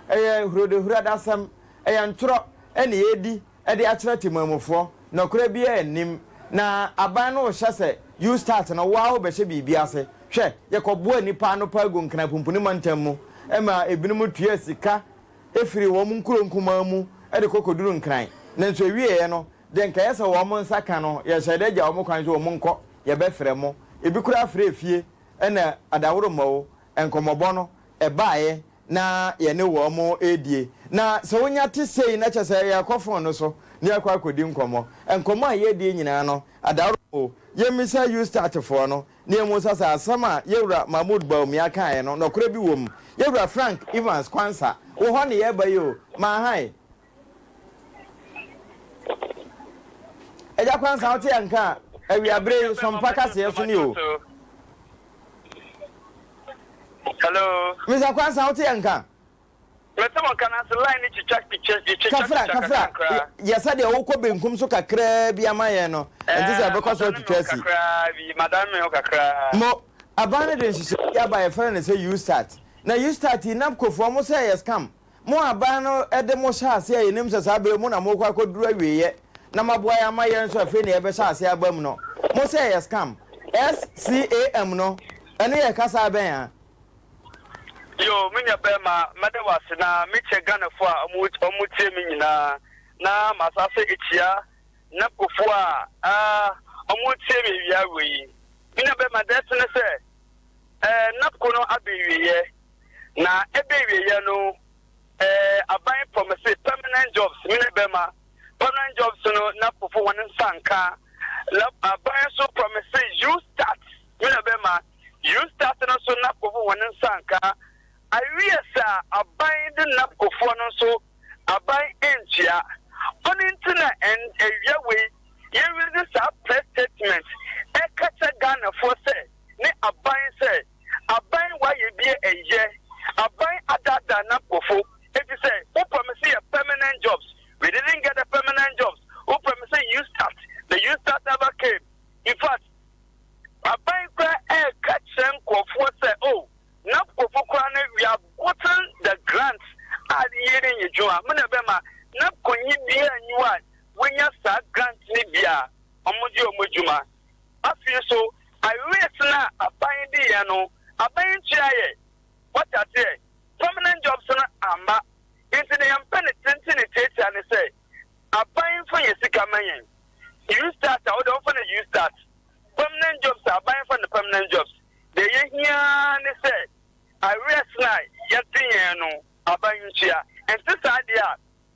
ɛyɛ hurodehurradasɛm, ɛyɛ ntorɔ na yɛredi de akyerɛ temammufoɔ, nɔkorɛ biara nnim, na aban no rehyɛ sɛ you start no wo ara wobɛhyɛ biribi ase. Hwɛ, yɛkɔboa nnipa ano paa gu Nkenapumpuni mantam mu ma ebinom tuaa sika firii wɔn nkuro nkumaa mu de kɔ kɔduru Nkran, nanso ɛwieeɛ no de nka yɛ sɛ wɔn nsa ka no, yɛhyɛ dɛ gya wɔn kwan sɛ wɔn nkɔ, yɛbɛfrɛ mo, ebi koraa frɛɛ fie na adaworoma o, nkɔmmɔbɔ no baeɛ na yɛne wɔn redie. Na sɛ wonya te sei na kyerɛ sɛ yɛkɔ fon no so na yɛakɔ akɔdi nkɔmmɔ. Nkɔmmɔ a yɛredie nyinaa no, adaworoma o, yɛmmisa Eustatfoɔ no na yɛmmu sɛ sɛ asɛm a yɛn wura Mahmoud Bawumia kaeɛ no, nɔkorɛ bi wɔ mu. Yɛn wura Frank Evans Quansah, wo hɔ na yɛreba yi o, Maahae. Agya Kwansa, wote yɛn nka a, awiaberɛ yi, Sompa kaseɛ so ni o. Hello. Mr. Kwansa, wote yɛn nka? Mete mo nka nanso line no twitwa twitwa twitwa Kafra, kafra, yɛ sɛ deɛ wokɔ benkum so kakraa bi ama yɛn no, ɛnte sɛ ɛbɛkɔ so atwitwa asi. Kakraa bi, madan me ho kakraa. Mo, aban no de nhyehyɛeɛ bi aba yɛfrɛ no sɛ U-start. Na U-start yi, NABCOfoɔ, wɔsɛ ɛyɛ scam. Mo aban no de mo hyɛɛ ase a yɛnim sɛ saa berɛ yi mo na morekɔ akɔduru awieeɛ na moaboa yɛn ama yɛn nso afei na yɛbɛhyɛ aseɛ aba mu no, mo sɛ ɛyɛ scam. SCAM no, ɛno yɛ kasa bɛn a? Yoo me nua bɛɛma mɛda wo ase na me kyɛ Ghana foɔ a ɔmo ɔmo tie me nyinaa na ma sa sɛ ɛkyia NAPCO foɔ a aa ɔmo tie me awia wei me nua bɛɛma dɛɛse ne sɛ ɛɛ NAPCO no abɛ ɛwieɛ. Na ebewieɛ no ɛɛ aban pɔ me se permanent jobs me ne bɛma permanent jobs no na pofo wɔn nsa nka na aban nso pɔ me se you start me na bɛma you start no nso na pofo wɔn nsa nka awie sa aban de na pofoɔ no nso aban ntua ɔne nti na ɛn ɛwia wei yɛwiri ne saa press statement ɛka kyɛ Ghanafoɔ sɛ ne aban sɛ aban wɔayɛ bi nnyɛ, aban adaadaa n'abkɔfo, efisɛ wopɛ me sɛ yɛ permanent jobs, we didn't get the permanent jobs, wopɛ me sɛ you start, the you start never came, in fact aban koraa ɛreka kyerɛ nkurɔfoɔ sɛ oh n'abkɔfo koraa no we have gotten the grants a yie no nyɛ dwuma, me na ɛbɛma n'abkɔnyi biara nyi hɔ a wanya saa grant no bi a wɔde wɔn adwuma Afei nso, awiei no a aban di yɛn no, aban yi ntua yɛn. Moate aseɛ? Permanent jobs no amma. Enti deɛ yɛmpɛ no tenten ne tiatia ne sɛ, aban mfa yɛn sika mma yɛn. U start a, wode ɔmfa no U start. Permanent jobs a, aban mfa no permanent jobs. Deɛ yɛhia ara ne sɛ, awiei no a yɛde yɛn no, aban ntua. Ɛnte saa deɛ a,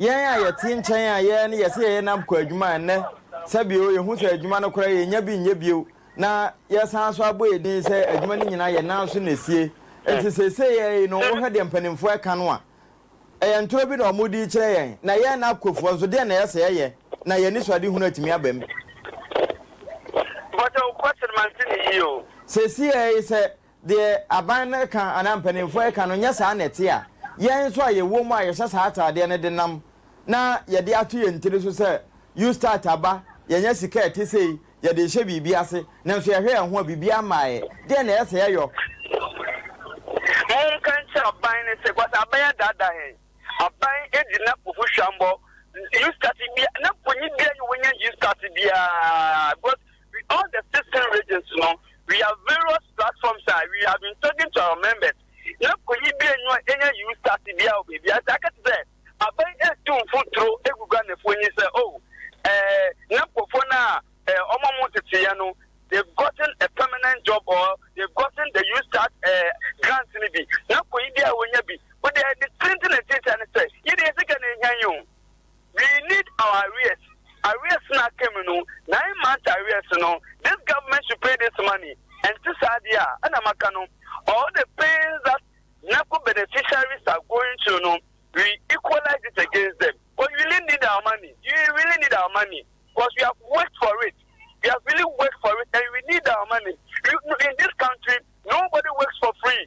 Yɛn a yɛte nkyɛn a yɛn ne yɛse yɛyɛ NAB kɔ adwuma a ɛnnɛ sɛ bio yɛhu sɛ adwuma no koraa yɛnnya bi nyɛ bio na yɛsan nso abɔ yɛn din sɛ adwuma no nyinaa yɛn nan so na ɛsie. Enti seesei yɛn yi no wohwɛ deɛ mpanimfoɔ ɛka no a ɛyɛ ntorɔ bi na wɔde rekyerɛ yɛn na yɛn NAB kɔfoɔ nso deɛn na ɛyɛ sɛ yɛyɛ na yɛn anisoadehunu atumi aba mu. Mpakyɛw question mante ne yie o. Seesei yɛn yi sɛ Deɛ aban no ka anaa mpanimfoɔ reka no nyɛ saa na ɛte a, yɛn nso a yɛwɔ mu a yɛhyɛ saa ataadeɛ no de nam na yɛde ato yɛn tiri so sɛ Ustart aba, yɛanya sika a ɛte sei, yɛde rehyɛ biribi ase, nanso yɛhwɛ yɛn ho a biribiara mmaeɛ. Deɛn na ɛyɛ sɛ yɛyɔ? Monka nkyerɛ aban no sɛ because aban adaadaa yɛn. Aban di NAPO ho hwammɔ. Ustart biara, NAPOnyi biara nyɛ wɔnya Ustart biara because. With all the sixteen regions no, we have various platforms a we have been talking to our members. Na koyi bi enyo enya you start bi a obebi ase aka te sɛ aban etu mfuturo egu Ghanafo enyi sɛ oh eh, na nkɔfo no a eh, ɔmo ɔmo teteɛ no they've gotten a permanent job or they've gotten the you start eh, grant no bi na koyi bi a wonya bi wode ɛde tenten na tenten ne sɛ yɛde yɛ sika na ehia yi o. We need our arrears arrears no aka mu no nine months arrears no this government should pay this money ɛnte saa deɛ a ɛna maka no all the pains that NACO beneficiaries are going through no we equalize it against them because we really need our money we really need our money because we have worked for it we have really worked for it and we need our money in this country nobody works for free.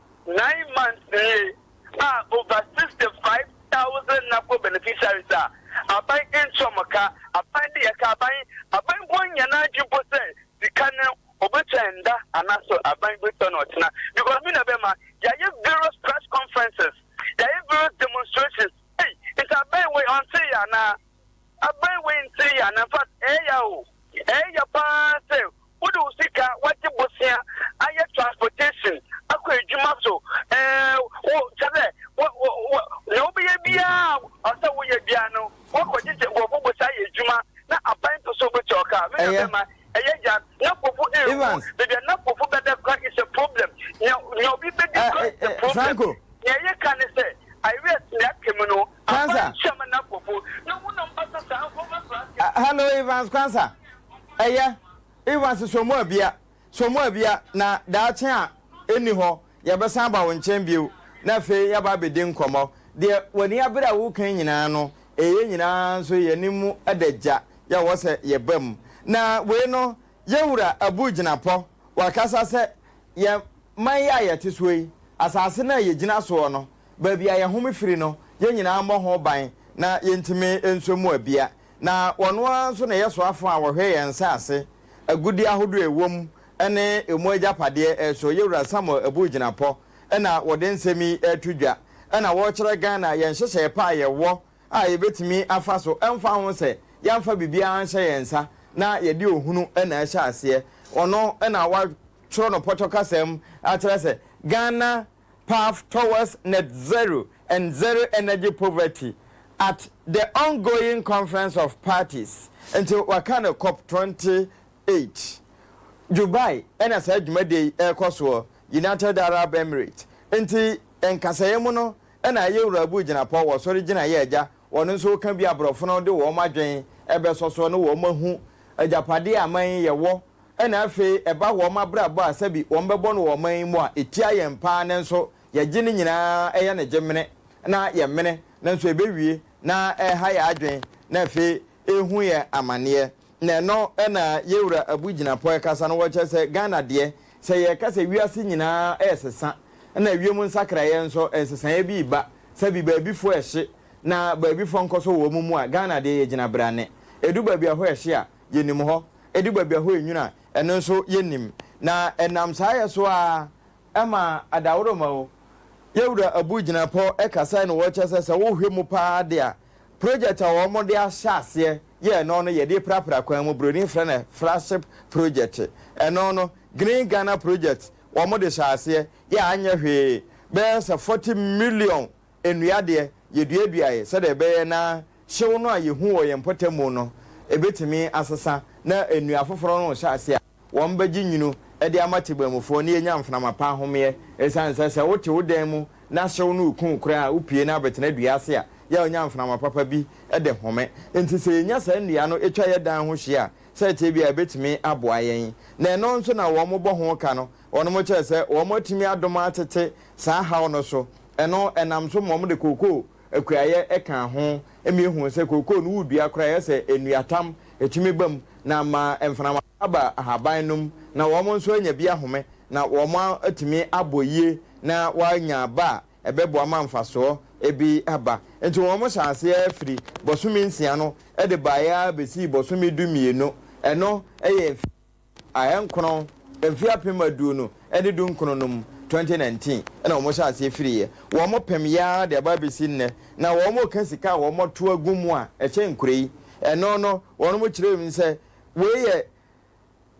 Nine months nie a over sixty five thousand NAPO beneficiaries a aban ntua wɔn ka, aban de yɛka aban, aban mpo nnya n'adwene mpo sɛ sika no ɔbɛtua ɛnda anaasɛ aban bɛtua no ɔkyena because me na ɛbɛma yɛayɛ various press conferences, yɛayɛ various demonstrations, ei nti aban wei ɔnte yɛn anaa? Aban wei ntiri ya na infact ɛyɛ ya o. Ɛyɛ ya paa sɛ wode wo sika wagye bosea ayɛ transportation akɔ adwuma so ɛɛ wo kyɛ sɛ wo wo wo nea wobɛyɛ biara a ɔsɛ woyɛ biara no woakɔgye gye nkurɔfo bosea ayɛ adwuma na aban pɛ sɛ ɔbɛtua wo ka. Me nua bɛrima ɛyɛ ya na nkurɔfo ɛrewu baabi a na nkurɔfo bɛda kora is a problem nea nea obi bɛdi kora is a problem. Nea yɛka ne sɛ I rest nea aka mu no. Kwansa. Hello Evans Kwansa. Ɛyɛ Evans so mu abia so mu abia na daakye a ɛni hɔ yɛbɛsan ba wo nkyɛn bio na afei yɛaba abɛdi nkɔmmɔ. Deɛ w'ani abere a wokan nyinaa no ɛyɛ nyinaa nso yɛne mu da gya yɛ wɔ sɛ yɛba mu. Na wei no Yɛwura Abu Gyinapɔ wakasa sɛ yɛn man yi a yɛte soɔ yi, asase no a yɛgyina soɔ no Baabi a yɛhome firi no, yɛn nyinaa mmɔ ho ban na yɛntumi nsɔ mu abia. Na wɔn ara nso na ɛyɛ soafoɔ a wɔhwɛ yɛn nsase, agudeɛ ahodoɔ a ɛwɔ mu, ne emu agyapadeɛ so. Yɛwura Samuel Abu Gyinapɔ na wɔde nsɛm yi reto dwa na wɔrekyerɛ Ghana yɛn nhyehyɛeɛ pa a yɛwɔ a yɛbɛtumi afa so ɛmfa ho sɛ yɛamfa biribiara anhyɛ yɛn nsa na yɛde ohunu na ɛhyɛ aseɛ. Ɔno na wɔatwerɛ no pɔtɔ kasa mu akyerɛ sɛ Ghana Path Towards Net Zero and Zero Energy Poverty at the Ongoing Conference of Parties, nti wɔaka no Cop twenty eight. Dubai na saa dwumadie yi rekɔ soɔ, United Arab Emirates, nti nkasɛeɛ mu no na ayɛ wura bu gyinapɔ wɔ sɔre gyinaeɛ a agya wɔn nso reka bi a aborɔfo no de wɔn adwene bɛsɔ soɔ na wɔahu agyapadeɛ a aman yi yɛwɔ Ɛna afei ɛba wɔn abrabɔ a sɛbi wɔn bɛbɔ no wɔ ɔman yi mu a ɛtia yɛn paa nanso yɛgye ne nyinaa ɛyɛ no gye mene na yɛ mene nanso ɛbɛwie na ɛha yɛn adwene na afei ɛhu yɛn amaneɛ na ɛno na yɛwura Abu Gyinapɔɛ kasa no wɔkyerɛ sɛ Ghana deɛ sɛ yɛka sɛ wiase nyinaa ɛresesa na ɛwiem nsakraeɛ nso nsesaeɛ bi reba sɛbi baabifoɔ ɛhye na baabifoɔ nkɔsɔ wɔn mu a Ghana deɛ yɛgyina berane ɛdu baabi a hɔ ɛhye a yɛnim hɔ, ɛdu baabi a hɔ yɛ nwunu a, ɛno nso yɛnnim. Na ɛnam saa yɛ so ara, ɛma adaworoma o, yɛn wura Abu Gyinapɔ kasae na ɔkyerɛ sɛ, sɛ wohwɛ mu pa ara de a, project a wɔde ahyɛ aseɛ yɛ ɛno no, yɛde prapra kwan mu, broni frɛ no Fraship Project, ɛno no, Green Ghana Project, wɔde hyɛɛ aseɛ yɛ a anyɛ hwee, bɛyɛ sɛ forty million Nnua deɛ, yɛduaduaeɛ sɛdeɛ ɛbɛyɛ na hyew no a yɛhu wɔ yɛn mpɔtam mu no bɛtumi asesa na nnua afoforɔ no rehyɛ aseɛ a, wɔbɛgye nwunu de ama tebamufoɔ na yɛanya mframa pa ahomeɛ. Ɛsiane sɛ sɛ wote wo dan mu na hyew no reku wo koraa a, wopue na abɛtena dua ase a, yɛ a wonya mframa papa bi de home. Enti sɛ yɛnya saa nnua no twa yɛn dan ho hyia a, sɛdeɛ ɛteɛ biara ɛbɛtumi aboa yɛn. Na ɛno nso na wɔbɔ ho ka no, Wɔnom kyerɛ sɛ wɔn atumi adom atete saa haw no so. Ɛno ɛnam so ma wɔde kookoo akuayɛ kaa ho ma yɛhuu sɛ kookoo no wodua koraa ɛyɛ sɛ nnuatam ɛtumi ba mu na ama mframa no aba ahaban no mu na wɔn nso anya bi ahome na wɔn atumi abɔ yie na wɔanya ba a ɛbɛboa ma mfasoɔ bi aba. Nti wɔn hyɛɛ aseɛ firi bɔsome nsia no de baeɛ ara bɛsii bɔsome du mmienu. Ɛno yɛ mfeɛ. ahenkron mfe apem aduonu ne dunkron no mu, 2019 na wɔhyɛɛ aseɛ firiiɛ, wɔpem yi ara de aba abɛsi nnɛ, na wɔka sika a wɔto agu mu a ɛhyɛ nkura yi, ɛno no wɔnom kyerɛɛ mu sɛ wei yɛ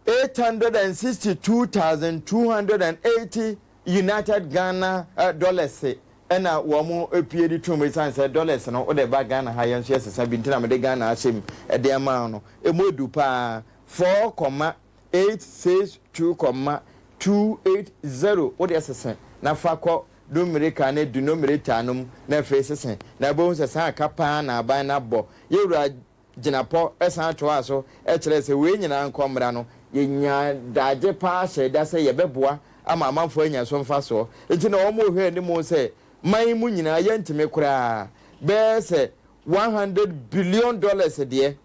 862,280 United Ghana Dollars na wɔpue de toom ɛsiane sɛ dollars no wode ba Ghana ha yɛn nso yɛsesa bi nti na mede Ghana ahyɛ mu de ma no, ɛmu ɛdu pa ara. four kɔma eight six two kɔma two eight zero wo deɛ sese na fa kɔ Numerical ne Denominator no mu na afei sese na wobɛhu sɛ saa ka paa na aban no abɔ. Yɛwura Gyinapɔ san toaa so kyerɛɛ sɛ wei nyinaa nkɔ mmra no, yɛnya daagye paa hyɛɛ da sɛ yɛbɛboa ama amanfoɔ anya so mfasoɔ nti na wɔn rehwɛ anim sɛ man yi mu nyinaa yɛntumi koraa bɛyɛ sɛ one hundred billion dollars deɛ.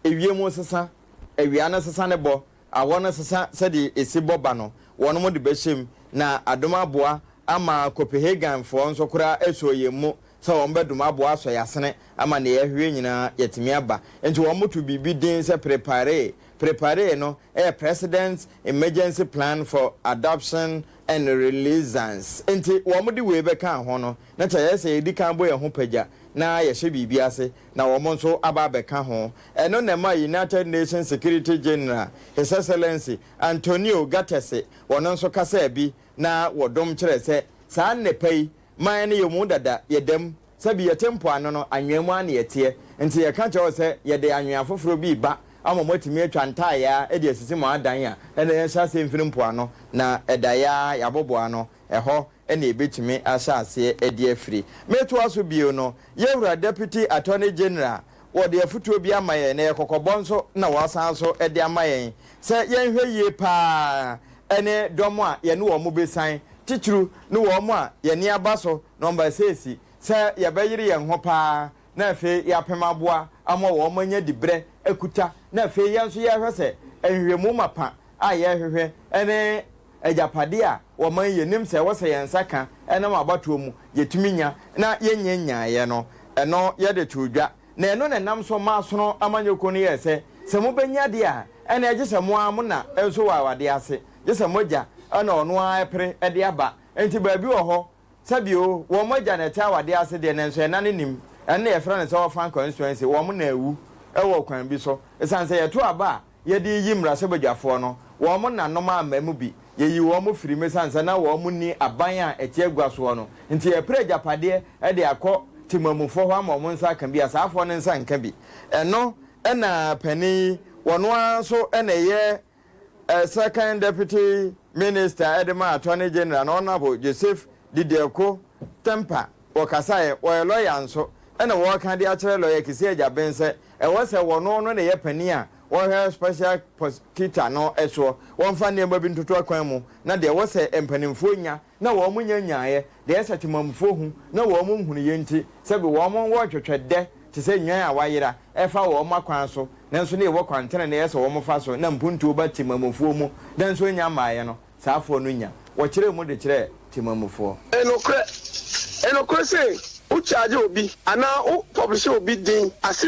ewiem sesa, awia no sesa ne bɔ, awɔ no sesa sɛdeɛ ɛsi bɔ ba no, wɔnom de bɛhyɛ mu, na adom aboa ama Copehagenfoɔ nso koraa asɔ yɛn mu sɛ wɔn bɛdom aboa asɔ yɛn asene ama deɛ yɛhwehwɛ nyinaa yɛatumi aba. Nti wɔn to biribi din sɛ Preparee. Preparee no yɛ President's Emergency Plan for Adoption and Releasance. Nti wɔn de wei bɛkaa ho no, na kyɛeɛ sɛ yɛdi kan bɔ yɛn ho pagya na yɛhyɛ biribi ase na wɔn nso aba abɛka ho. Ɛno na ɛmaa United Nations Security General, His Excellency Antonio Guterres, ɔno nso kasaa bi na wɔdom kyerɛɛ sɛ, Saa nnepa yi, man no yɛwɔ mu dada, yɛda mu. Sɛbi yɛte mpoano no, anwea mu ara na yɛteɛ. Nti yɛka kyerɛ wo sɛ, yɛde anwea foforɔ bi reba ama moatumi atwa ntaayaa de asisi mo adan a ɛna yɛahyɛ aseɛ mfiri mpoano, na ɛdaeɛ ara yɛabobɔ ano. Ɛhɔ na ebetumi ahyɛ aseɛ de afiri. Metoa so bio no, Yɛwura Deputy Attorney General, wɔde afotuo bi ama yɛn, na ɛyɛ kɔkɔbɔ nso na wɔasan so de ama yɛn sɛ yɛnhwɛ yie pa ara ne dɔm a yɛne wɔn bɛsian, titiriw ne wɔn a yɛne aba so na wɔn ba sɛsi, sɛ yɛbɛyere yɛn ho pa ara na afei yɛapem aboa ama wɔanya dibrɛ akuta, na afei yɛn nso yɛrehwɛ sɛ nhwehwɛmu mapa a yɛrehwehwɛ ne agyapadeɛ a wɔma yi yɛnim sɛ ɛwɔ sɛ yɛn nsa ka nam abatoɔ mu yɛtumi nya na yɛnnya nyaeɛ no, ɛno yɛde too dwa. Na ɛno na ɛnam so maa sono amanyɔkuo no yɛɛ sɛ, sɛ mobɛnya deɛ a, ɛnneɛ gye sɛ mo ara mo na nso wɔ awadeɛ ase, gye sɛ mo agya na ɔno ara pere de aba. Enti baabi wɔ hɔ Sɛ bio, wɔn mogya na ɛte awadeɛ ase deɛ, nanso ɛna no nim. Ɛno na yɛfrɛ no sɛ orphan constituency, wɔn na awu wɔ ɔkwan bi so. Ɛsiane sɛ yɛto aba a yɛde reyi mmarahyɛbadwafoɔ no, wɔn nanom amma mu bi. Yɛyii wɔn firii mu ɛsiane sɛ na wɔn nni aban a ɛte agua soɔ no nti. Yɛpere agyapadeɛ de akɔ temammufoɔ hɔ ama wɔn nsa aka bi a, saafoɔ no nsa nka bi. Ɛno na panin yi, wɔn ara nso na ɛyɛ Second Deputy Minister de ma Attorney General no Honourable Joseph Didiako Tempa wɔkasaeɛ, wɔyɛ lɔya nso, ɛna wɔreka de akyerɛ lɔya Kissi Agyabeng sɛ ɛwɔ sɛ wɔno no na ɛyɛ panin a ɔhwɛ Special Prosecutor no soɔ, wɔmfa nneɛma bi ntoto akwan mu na deɛ ɛwɔ sɛ mpanimfoɔ nya na wɔn nya nyaeɛ, deɛ sɛ temammufoɔ hu na wɔn nhunu yei nti, sɛbe wɔn wɔretwetwɛ dɛ te sɛ nnwan a wɔayera, ɛfa wɔn akwan so, nanso na ɛwɔ kwan tenenee sɛ wɔn fa so, na mpuntuo ba temammufoɔ mu, nanso ɛnnya mmaeɛ no, saa afoɔ no nya. Wɔkyerɛɛ mu de kyerɛɛ temammufoɔ. Nokorɛ, nokorɛ se, wo charge obi anaa wo publisher obi din ase.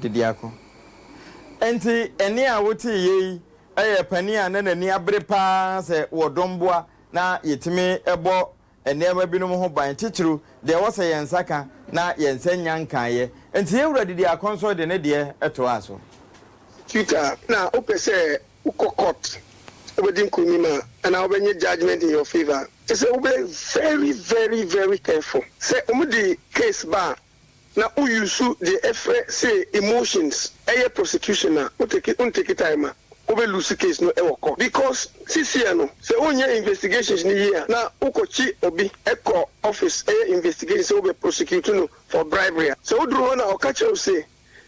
De biako. Enti ɛnne a woteeɛ yi yɛ panin a na n'ani abere pa ara sɛ wɔdɔ mmoa na yɛtumi bɔ nneɛma binom ho ban, titiriw deɛ ɛwɔ sɛ yɛn nsa ka na yɛn nsa nnya nkaeɛ. Enti yɛn wura Didiako nso de ne deɛ toaa so. Twitter na wopɛ sɛ wokɔ court wobɛdi nkunim a anaa wobɛnyɛ judgement in your favour a, kyerɛ sɛ wobɛyɛ very very very careful sɛ wɔde case ba a na wo use deɛ ɛfrɛ se emotions ɛyɛ prosecution a wo take wo ntake time a wo bɛ lose case no ɛwɔ court because seseɛ no sɛ wo nyɛ investigations no yie a na wo kɔ kyi obi ɛkɔ office ɛyɛ investigation sɛ wo bɛ prosecute no for bribery a sɛ wo duru hɔ na ɔka kyerɛ wo se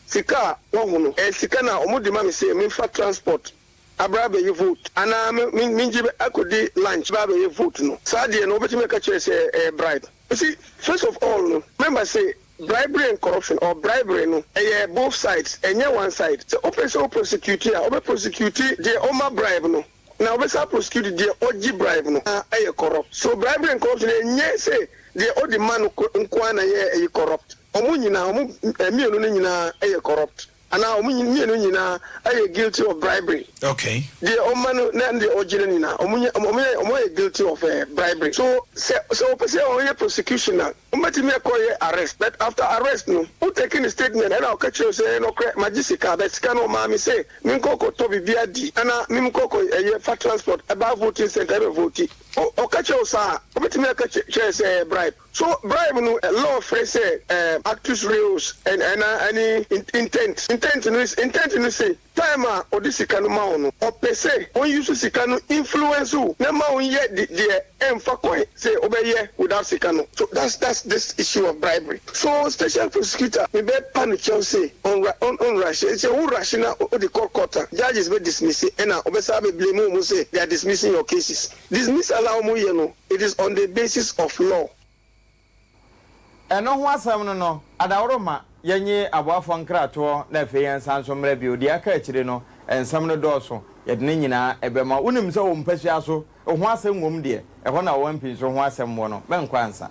sika a wahu no ɛyɛ sika no a wɔn de ma me se menfa transport abra abɛyɛ vote anaa me me mengye bɛ akɔdi lunch bɛ abɛyɛ vote no saa deɛ no wobɛtumi aka kyerɛ sɛ ɛyɛ bribe you see first of all no member sɛ bribery and corruption or bribery no ɛyɛ both sides ɛnyɛ one side sɛ wopɛ sɛ wo prosecute a wobɛ prosecute deɛ ɔma bribe no na wobɛsan aprosecute deɛ ɔgye bribe no na ɛyɛ corrupt so bribery and corruption ɛnyɛ sɛ deɛ ɔde ma no nko ara na ɛyɛ corrupt ɔmo nyinaa ɔmo mmienu no nyinaa ɛyɛ corrupt. Anaa wɔn mmienu nyinaa yɛ guilty of bribery. Okay. Deɛ ɔma no na deɛ ɔgye no nyinaa wɔn nyɛ wɔn yɛ wɔn ayɛ guilty of eh, bribery. So sɛ sɛ wɔpɛ sɛ wɔyɛ prosecution a, wɔbɛtumi akɔ yɛ arrest but after arrest no wo take ne statement ɛna ɔka kyerɛ wo sɛ ɛyɛ nɔkorɛ magye sika but sika no ɔmaa me sɛ menkɔ kɔ tɔ biribi adi anaa mem kɔ kɔ ɛyɛ fa transport ɛbaa voting centre ɛbɛ vote. Ɔ ɔka kyerɛ wo saa a, wɔbɛtumi aka kyerɛ kyerɛ sɛ ɛyɛ bribe. So bribe no law frɛ sɛ actus reus anaa ne intent? Intent no intent no se time a ɔde sika no ma wo no ɔpɛ sɛ ɔnuse sika no influence wo na ɛma wo nyɛ deɛ ɛmfa kwan sɛ wobɛyɛ without sika no. So that's that's this issue of bribery. So special prosecutor me bɛ pa no kyɛw se ɔn ɔn rush sɛ wo rush na wode kɔ court a judges bɛ dismisse ɛna ɔbɛsan abɛ blame wo mo sɛ they are dismissing your cases. Dismiss a na wɔn yɛ no it is on the basis of law. Ɛno ho asɛm no no, adaworo mma yɛnnye aboafoɔ nkratoɔ na afei yɛnsan nso mmra bio. Deɛ aka akyire no, nsɛm no dɔɔso, yɛde ne nyinaa ɛbɛma. Wonim sɛ wɔ mpasua so, ho asɛm wɔ mu deɛ, ɛhɔ na ɔwampinso ho asɛm wɔ no, mɛnkɔ ansa.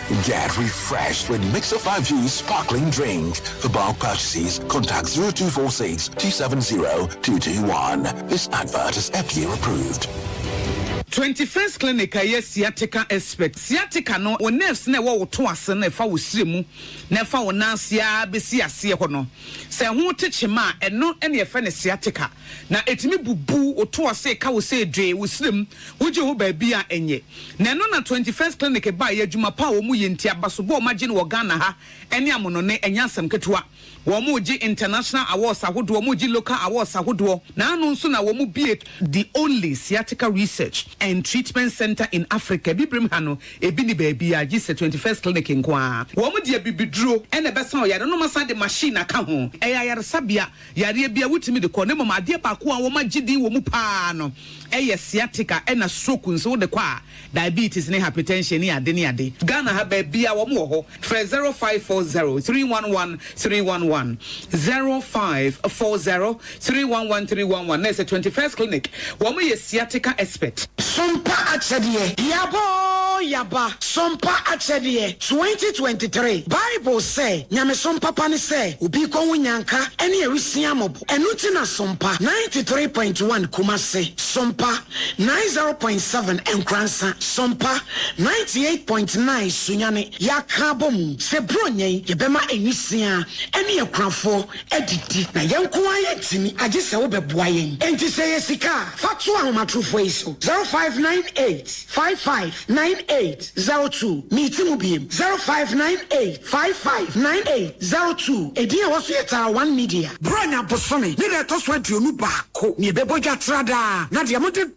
Get refreshed with Mixer 5 Juice Sparkling Drink. For bulk purchases, contact 0246 270 221. This advert is FDA approved. Twenty First Clinic a ɛyɛ sciatica expert. Sciatica no, wo nerves no a ɛwɔ wo to ase no, ɛfa wo srɛ mu na ɛfa wo nan ase ara bɛsi aseɛ hɔ no. Sɛ ɛho te kyema a, ɛno na yɛfrɛ no sciatica. Na ɛtumi bubu wo to ase ka wo sɛ dwee, wo srɛ mu. Wogye ho baabi a ɛnyɛ. Na ɛno na Twenty First Clinic baeɛ, adwuma pa a wɔn yɛ nti, abasobɔ a wɔn agye no wɔ Ghana ha ne amonone, ɛnyɛ asɛm ketewa. Wɔn gye International Awards ahodoɔ, wɔn gye Local Awards ahodoɔ, na ano nso na wɔn bue, the only Sciatica Research and Treatment Centre in Africa, Abibirem ha no, ɛbi nni baabiara gye sɛ Twenty First Clinic nko ara. Wɔn de abibiduro na ɛbɛsa ɔyare no, na wɔasan de machine aka ho. Ɛyɛ ayaresabea, Yareɛ biara wotumi de kɔ, na mmom adeɛ baako a wɔagye din wɔ mu paa no yɛ sciatica ɛna stroke nso wode kɔ a, diabetes ne hypertension ne ade ne ade. Ghana ha baabiara wɔn wɔ hɔ, frɛ zero five four zero three one one three one one, zero five four zero three one one three one one, na ɛsɛ twenty first clinic. Wɔn yɛ sciatica expert. Sompa Akyɛdeɛ. Yaba oo yaba! Sompa Akyɛdeɛ, 2023 Bible sɛ nyamesom papa ne sɛ obi kɔ ho nyanka ne awusia mmɔbɔ. Ɛno nti na Sompa 93.1 Kumasi, Sompa 90.7 Nkoransa, Sompa 98.9 Sunyani yɛaka abɔ mu sɛ Buronya yi yɛbɛma awusia ne akunafoɔ adidi na yɛn nko ara yɛntumi agye sɛ wobɛboa yɛn. Enti sɛ ɛyɛ sika a, fa to ahomatorofoɔ yi so, 0598 55 9802. Meti mu bio, 0598 55 9802. Edin a ɛwɔ so yɛ Tara One Media. Borɔnya bosome ne da a ɛtɔ so aduonu baako na yɛbɛbɔ dwa tra daa, na deɛ mode.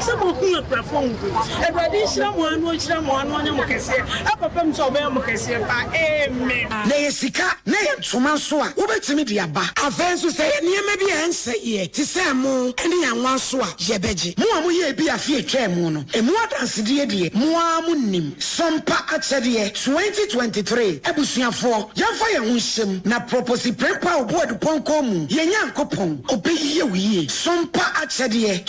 Sɛ mo ho yɛ kurafo nko. Awurade nhyira mo ano nhyira mo ano ɔnyɛ mo kɛseɛ papa mu sɛ ɔbɛyɛ mo kɛseɛ paa amen. Na ɛyɛ sika na ɛyɛ ntoma nso a, wobɛtumi de aba. Afei nso sɛ ɛyɛ nneɛma bi a ɛnsɛeɛ te sɛ ɛmo ne anwa nso a, yɛbɛgye. Mo a moyɛɛ bi afe a ɛtwaa mu no, ɛmu adansedeɛ deɛ, mo ara monim. Sompa Akyɛdeɛ 2023 Abusuafoɔ, yɛmfa yɛn ho nhyɛm na Proposiprempah Obua Dupɔnkɔ mu, yɛn Nyankopɔn, ɔbɛyɛ wo yie. Sompa Akyɛdeɛ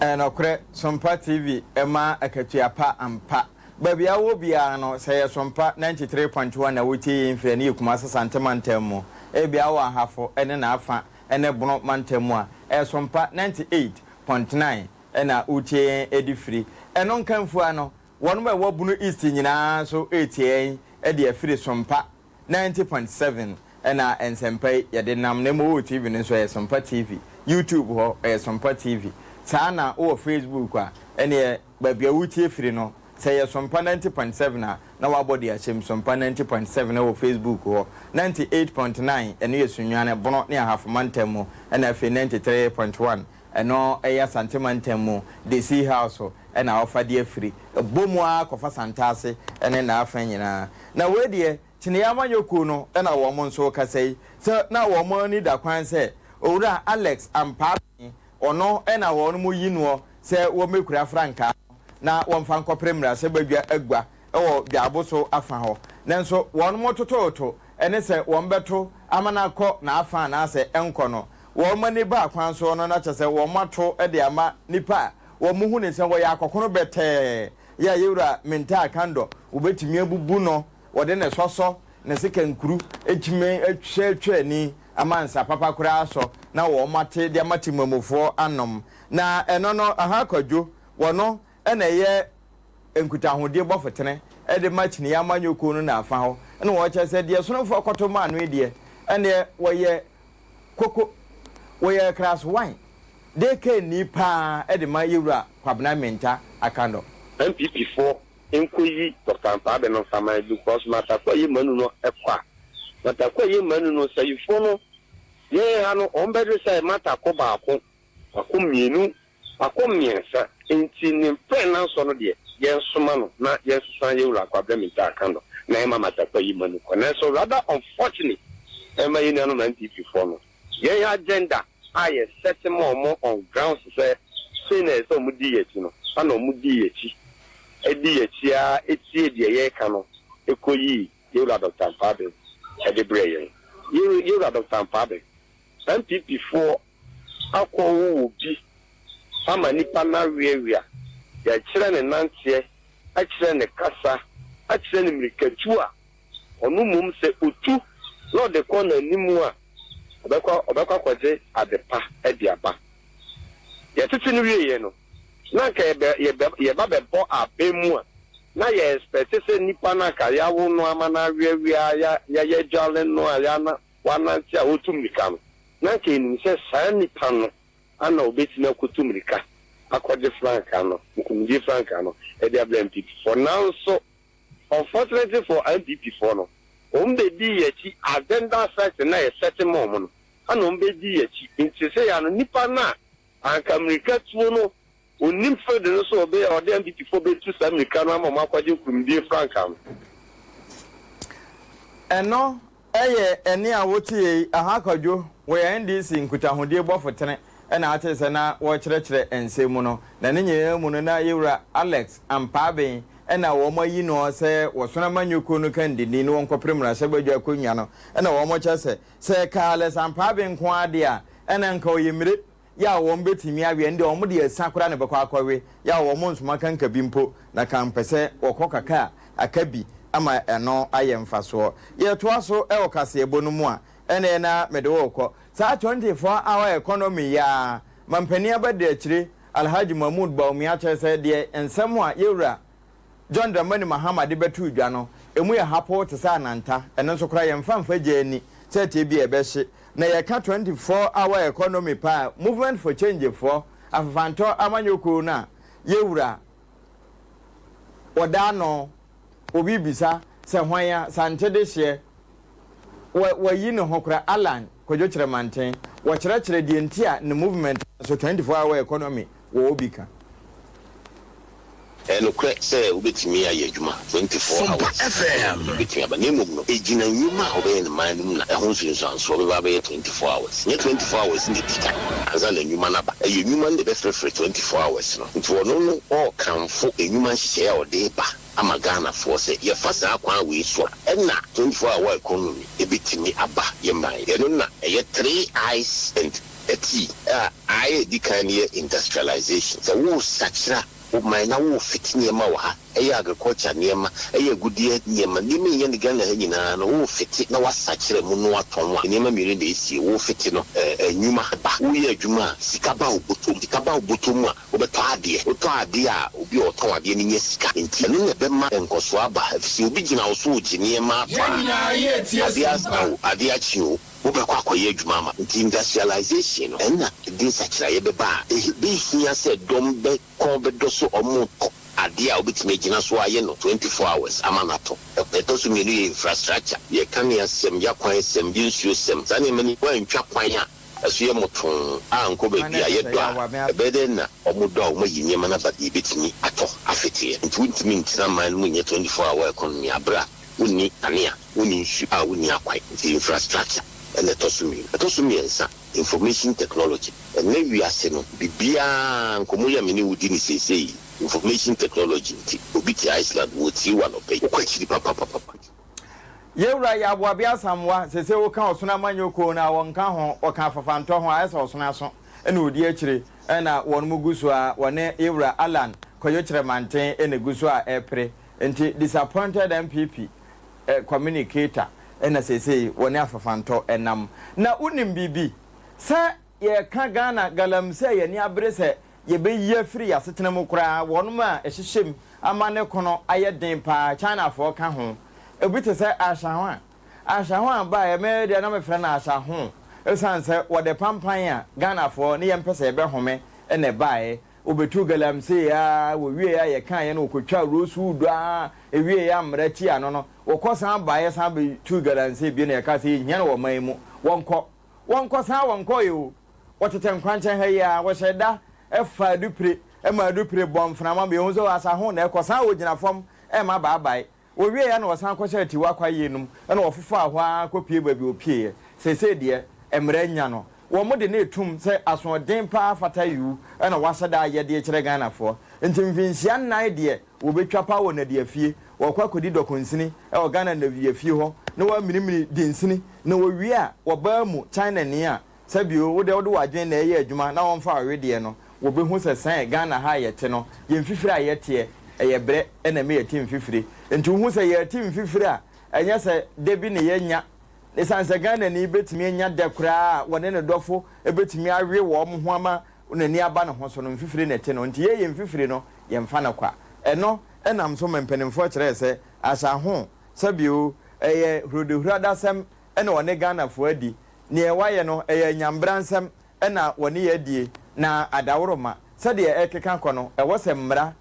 Ɛyɛ nɔkorɛ, Sompa TV ma akatua pa ampa. Baabi a wowɔ biara no, sɛ ɛyɛ Sompa 93.1 na wotie yei mfiri ɛne yɛ Kumasi Asante mantam mu, ebia wowɔ Ahafo ne n'afa ne Bono mantam mu a, ɛyɛ Sompa 98.9 na wotie yɛn de firi. Ɛno nka mfua no, wɔnom a ɛwɔ Bono East nyinaa nso retie yɛn de afiri Sompa Ninety point seven ɛna nsɛmpa yi yɛde nam na mmom wowɔ TV no nso ɛyɛ sompa TV, YouTube hɔ ɛyɛ sompa TV, saa na wowɔ Facebook a ɛneɛ baabi a woretie firi no sɛ ɛyɛ sompa ninety point seven a na wabɔ de ahyɛ mu sompa ninety point seven ɛwɔ Facebook hɔ, ninety eight point nine ɛno yɛ Sunyani, Bono ne Ahafo mantam mu ɛna afei ninety three point one Ɛno yɛ Asante mantam mu de Sea House so na wɔfa de afiri bɔ mu ara kɔfa Santase ne n'afa nyinaa. Na wei deɛ Kyeneyɛ amanyɔkuo no na wɔn nso rekasa yi sɛ na wɔn ani da kwan sɛ Owura Alex Ampaatee, ɔno na wɔn reyi noɔ sɛ wɔmmɛkura frankaa no na wɔmfa nkɔpere mmarahyɛbadwa agua wɔ Dwaaboso afa hɔ. Nanso wɔn totooto ne sɛ wɔbɛto ama no akɔ n'afa anaasɛ ɛnkɔ no. wɔn ani ba kwan so no na kyerɛ sɛ wɔato de ama nnipa a wɔhu no sɛ wɔyɛ akɔkono bɛtɛɛ. Yɛ a Yewura Mintaa Kandor, wobetumi abubu no, wɔde ne sɔsɔ, ne sekankuru kyima atwa atwa ani ama nsa papa koraa asɔ na wɔate de ama Temamufoɔ anom. Na ɛno no, Ahaa Kwadwo, wɔno na ɛyɛ nkutahodie bɔfotene de ma kyiniiɛ amanyɔkuo no n'afa hɔ na wɔkyerɛ sɛ deɛ Sonomfoɔ kɔto maa no yi deɛ, ɛnneɛ wɔyɛ Koko, wɔyɛ Krasowan de kanni paa de ma Yewura Kwabena Menta Akandor. NPP foɔ nkɔ yi Doctor Ankwaa Abe no nfa ma yɛn because Martha Kuayie Manu no kɔ a Martha Kuayie Manu no sayifoɔ no yɛn ha no wɔn bɛ de sɛ Martha kɔ baako, wako mmienu Akɔ mmiɛnsa, enti ne mprɛnansɔ no deɛ, yɛnsoma no na yɛnsesa yɛn wura Kwabena Mintah aka no na yɛma Matakwa yi ma no kɔ. Nanso rather unfortunate ma yɛn nuanom NPP foɔ no, yɛn agenda a yɛ set maa wɔn on grounds sɛ sei na ɛsɛ sɛ wɔdi yɛn akyi no, ɛna wɔn dii yɛn akyi, ɛdi yɛn akyi ara ɛtiee deɛ yɛreka no ɛkɔ yii yɛn wura Doctor Ampaa Begu ɛde brɛɛ yɛn. Yɛn wura Doctor Ampaa Begu, NPP foɔ akɔ wo wɔ bi ama nipa no aweawea yɛkyerɛ ne nanteɛ ɛkyerɛ ne kasa ɛkyerɛ ne mirikatu a ɔno mmom sɛ ɔtu na ɔde kɔ nanim a ɔbɛkɔ ɔbɛkɔ akɔgye ade pa ɛde aba yɛtete no wieɛ no na anka yɛbɛ yɛbɛ yɛba bɛbɔ abɛn mu a na yɛ expect sɛ nipa no anka yawo no ama no aweawea ya yɛyɛ dwale no a ya na wanante a ɔretu mmirika no, na anka ɛnim sɛ saa nnipa no ana ɔbɛtumi akɔtu mmirika akɔgye frankaa no, nkunimdie frankaa no, de abrɛ NPPfoɔ. Nanso, unfortunately for NPPfoɔ no, wɔn bɛdii yɛn akyi, agenda setting no a yɛ sɛte maa wɔn no, ɛna wɔn bɛdii yɛn akyi. Nti seesei ara no, nnipa no a anka mmirikatuo no Onnim Fred no so ɔbɛ a ɔde NDP foɔ bɛtu saa mmirika no ama ɔmo akwagye nkunimdie frankaa no. Ɛno yɛ ɛnne a wotee yi aha kwadwo wɔyɛ NDC nkutahodie bɔfo tene na atee sɛ na wɔrekyerɛkyerɛ nsɛm mu no na ne nyinaa mu no na yɛwura Alex Ampaaben na wɔn ayi noɔ sɛ wɔsono amanyɔkuo no kandini na wɔnkɔpere mmarahyɛ badwa akonnwa no na wɔn kyɛ sɛ sɛ ɛkaa Alex Ampaaben nko ara deɛ a ɛna nka ɔyɛ mmire Yaw, wɔbetumi awe, ɛnde wɔn de asian koraa na ɛbɛkɔ akɔwe. Yaw, wɔn nsoma kanka bi mpo, na kan pɛ sɛ wɔkɔ kaka a, aka bi ama ɛno ayɛ mfasoɔ. Yɛtoa so wɔ kaseɛbɔ no mu a, ɛnna ɛyɛ no ara mede wo rekɔ. Saa twenty four hour economy yi ara, mampanin abadiakyire Alhaji Mahmood Bawumia kyerɛ sɛ deɛ nsɛm a Yɛwura, John Dramani Mahama de bɛtoo dwa no, emu yɛ hapoo te sɛ ananta. Ɛno nso koraa yɛmfa mfa gyaa ani sɛ tebea a ɛbɛhye. Na yɛka Twenty Four Hour Economy paa a Movement for Change foɔ, afafantɔ amanyɔkuo no a yɛwura wɔda ano, obi bisa sɛ hwan a, Sante dehyeɛ, Wɔ wɔayi ne ho koraa Allan Kwadwo Kyerɛmanten wɔkyerɛkyerɛ deɛ nti a ne movement no nso 24 hour economy wɔ obi ka. Ɛyɛ nokorɛ sɛ wobɛtumi ayɛ adwuma 24 hours ɛno bɛtumi aba na mmom no ɛgyina nnwuma a wobɛyɛ no man no mu na ɛho nsunsuansoɔ bɛba abɛyɛ 24 hours nyɛ 24 hours na ɛdi kan ansa na nnwuma no aba ɛyɛ nnwuma no na ɛbɛfrɛfrɛ 24 hours no nti ɔno no ɔɔkamfo nnwuma nhyehyɛeɛ a ɔde reba ama Ghanafoɔ sɛ yɛfa saa kwan wei so a, ɛna twenty four hour economy ɛbɛtumi aba yɛ man. Ɛno na ɛyɛ three I's and a T a I a ɛdi kan no yɛ industrialization, sɛ woresakyera wo man na worefit nneɛma wɔ ha, ɛyɛ agriculture nneɛma, ɛyɛ agudeɛ nneɛma, nneɛma a ɛhia ne Ghana ha nyinaa no worefite na woasakyera mu na woatɔn a, nneɛma mmienu na ɛsie, worefite no, nnwuma ba, woreyɛ adwuma a, sika ba wo bɔtɔ mu, sika ba wo bɔtɔ mu a, Wobɛtɔ adeɛ. Wotɔ adeɛ a, obi a ɔtɔn adeɛ no nya sika. Enti ɛno na ɛbɛma nkɔsoɔ aba, ɛfiri sɛ obi gyina wo so regye nneɛma atɔ a, adeɛ asa o, adeɛ akye o, wobɛkɔ akɔyɛ adwuma ama. Enti industrialisation no, ɛno na ɛde nsakyeraeɛ bɛba a, ɛbɛhia sɛ dɔm bɛ kɔn bɛdɔ so wɔretɔ adeɛ a wobɛtumi agyina so ayɛ no twenty four hours ama no atɔ. Deɛ ɛtɔ so mmienu yɛ infrastructure, yɛ kaneasɛm, yɛ akwansɛm, yɛ nsuosɛm. Saa nneɛma no, woantwa kwan a, Ɛso yɛ mo too a nkɔ baabi a yɛdɔ a ɛbɛyɛ dɛn na ɔmo dɔ a ɔmo ayi nneɛma no aba deɛ ɛbɛtumi atɔ afeteɛ nti wontumi ntena man no mu nyɛ 24 hour economy aberɛ a wonni kanea wonni nsu a wonni akwan nti infrastructure ɛna ɛtɔ so mmienu ɛtɔ so mmiɛnsa information technology ɛnnɛ wiase no biribiara nkɔmmɔ yi a me ne wo di no seesei yi information technology nti obi te Iceland wɔretie wo anɔpa yi wokɔ akyiri papapapapa. Yɛn Wura yɛ Aboabea Asamoah, sese woka ɔsono amanyɔkuo no a wɔnka ho, wɔka afafantɔ ho a ayɛ sɛ ɔsono aso na ɔdi akyire na wɔnom gu so ara, wɔne Yɛn Wura Allan Kwajo Kyerɛmanten na ɛgu so a ɛrepere, nti disappointed NPP communicator na seesei wɔne afafantɔ nam. Na wonim biribi? Sɛ. Yɛka Ghana galamsey a yɛn ani abere sɛ yɛbɛyi afiri yɛn asetena mu koraa, wɔnom a ɛhyehyɛ mu ama ne ko no ayɛ den paa, Chinafoɔ ka ho. Ebi te sɛ Ashahwa. Ashahwa baeɛ, me deɛ na mefrɛ no Ashahoo ɛsiane sɛ wɔde pampan a Ghanafoɔ ne yɛmpɛ sɛ yɛbɛhome na ɛbaeɛ. Wɔbɛtuu galamsey ara, wɔwieeɛ a yɛkaeɛ no wɔkɔtwaa rosewood ara, ɛwieeɛ a mmara tiaa no no, wɔkɔ san baeɛ san bɛtuu galamsey bio na yɛkaa sɛ yɛnhia no wɔ ɔman yi mu, wɔnkɔ. Wɔnkɔsan a wɔnkɔɔɛ o. Wɔtetɛ nkwankyɛn ha yi ara, wɔhyɛ da fa adupire ma adupire bɔ mframa ma yɛhu sɛ o asa ho na ɛkɔsan a wɔgyina fam rema baabae. Wɔwieeɛ na wɔsan kɔhyɛ Atiwa kwaeɛ no mu na wɔfofaa hɔ ara kɔpue baabi a wɔpueeɛ. Seesei deɛ, mmara anya no. Wɔn de no retom sɛ asoɔden pa ara fata yiw na wɔahyɛ da ayɛ de rekyerɛ Ghanafoɔ. Nti mfinhyia nnan deɛ, Wɔbɛtwa paa wɔ nnadeafie, wɔkɔ akɔdi dɔkonsini wɔ Ghana nnadeafie hɔ na wɔaminimini dinsini na wɔwie a wɔbaa mu Chinani a sɛ bio wo deɛ wode w'adwene na ɛreyɛ adwuma na wɔmfa wo wedeɛ no wɔbɛhu sɛ sɛn Ghana ha a yɛte no yɛn mfifire a yɛteɛ ɛyɛ brɛ na ɛma yɛte mfifire nti wohu sɛ yɛrete mfifire a ɛnyɛ sɛ da bi na yɛnya ɛsiane sɛ Ghanani bɛtumi anya da koraa a wɔne ne dɔfo bɛtumi awe wɔn ho ama Wɔn ani aba ne ho so no, mfifire na ɛte no, enti yɛyɛ mfifire no, yɛmfa no kwa. Ɛno nam so ma mpanimfoɔ kyerɛɛ sɛ Ahyɛ ho sɛ bio, ɛyɛ huradahuradaasɛm na wɔne Ghanafoɔ adi, neɛ wɔayɛ no, ɛyɛ anyanbransɛm na wɔne yɛn adie, na adaworoma, sɛdeɛ ɛrekeka kɔ no, ɛwɔ sɛ mmara,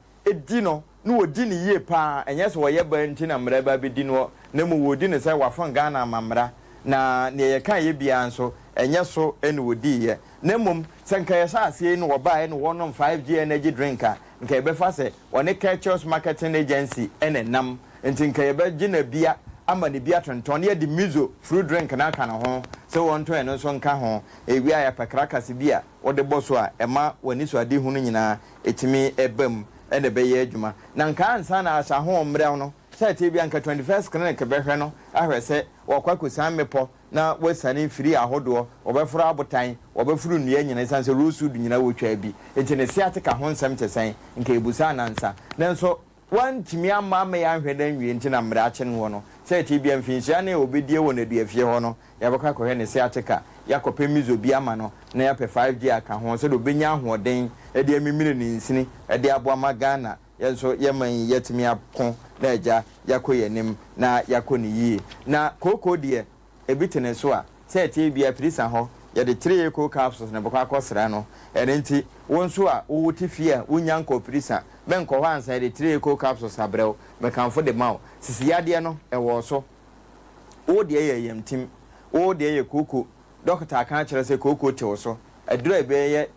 di no na wɔdi no yie pa ara, ɛnyɛ sɛ wɔyɛ baa nti na mmara bi abɛdi noɔ na mmom wɔredi no sɛ wɔafom Ghana amammara na deɛ yɛkaeɛ biara nso ɛnyɛ so na wɔdiiɛ na mmom sɛ nka yɛhyɛ aseɛ yi na wɔbaeɛ na wɔnom 5G energy drink a nka yɛbɛfa sɛ wɔne Kirchhoffs Marketing Agency na ɛnam nti nka yɛbɛgye no abia ama no bi atontɔn na yɛde Mizo fruit drink no aka ne ho sɛ wɔntɔn ɛno nso nka ho ɛwia yɛapɛ krakase bi a wode bɔ so a ɛma w'anisoadehunu nyinaa ɛtumi ba mu na ɛbɛyɛ adwuma. Na nka ansa na ahyɛ ahɔho mmerɛw no, sɛdeɛ ɛbɛyɛ a nka 21st Clinic bɛhwɛ no ahwɛ sɛ wɔakɔ akɔsian mmepɔ na wɔasiane mfiri ahodoɔ, wɔbɛforo abotan, wɔbɛforo nnua nyinaa, ɛsiane sɛ rosewood nyinaa wɔtwaa bi nti ne sciatica ho nsɛm te sɛn, nka yɛbusaa no ansa. Nanso. Wɔantumi amma ammɛyɛ anhwɛ no anwie nti na mmerɛ akye noɔ no, sɛ ɛtee bia mfinhyia ne ɔbɛdie wɔ n'aduafie hɔ no, yɛabɛkɔ akɔhwɛ ne sciatica, yɛakɔpɛ mizo bi ama no na yɛapɛ 5G aka ho sɛdeɛ ɔbɛnya ahoɔden de amimire ne nsini de aboa ama Ghana. Yɛn nso yɛn man yi yɛatumi ako na agya yɛakɔ yɛn anim na yɛakɔ no yie. Na kooko deɛ Ebi te ne so a, sɛ ɛteɛ biara firi sa hɔ, yɛde three cold capsules na ɛbɛkɔ akɔsra no. Ɛno nti, wo nso a wowɔ te fie a wunnya nkɔɔ firi sa, menkɔ hɔ ansa yɛde three cold capsules abrɛ wo. Mekamfo de ma wo. Sisi yadeɛ no, ɛwɔ wo so. Wo deɛ yɛ yamtim. Wo deɛ yɛ kooko. Dɔkota aka akyerɛ wo sɛ kooko te wo so. Aduru a ebi yɛ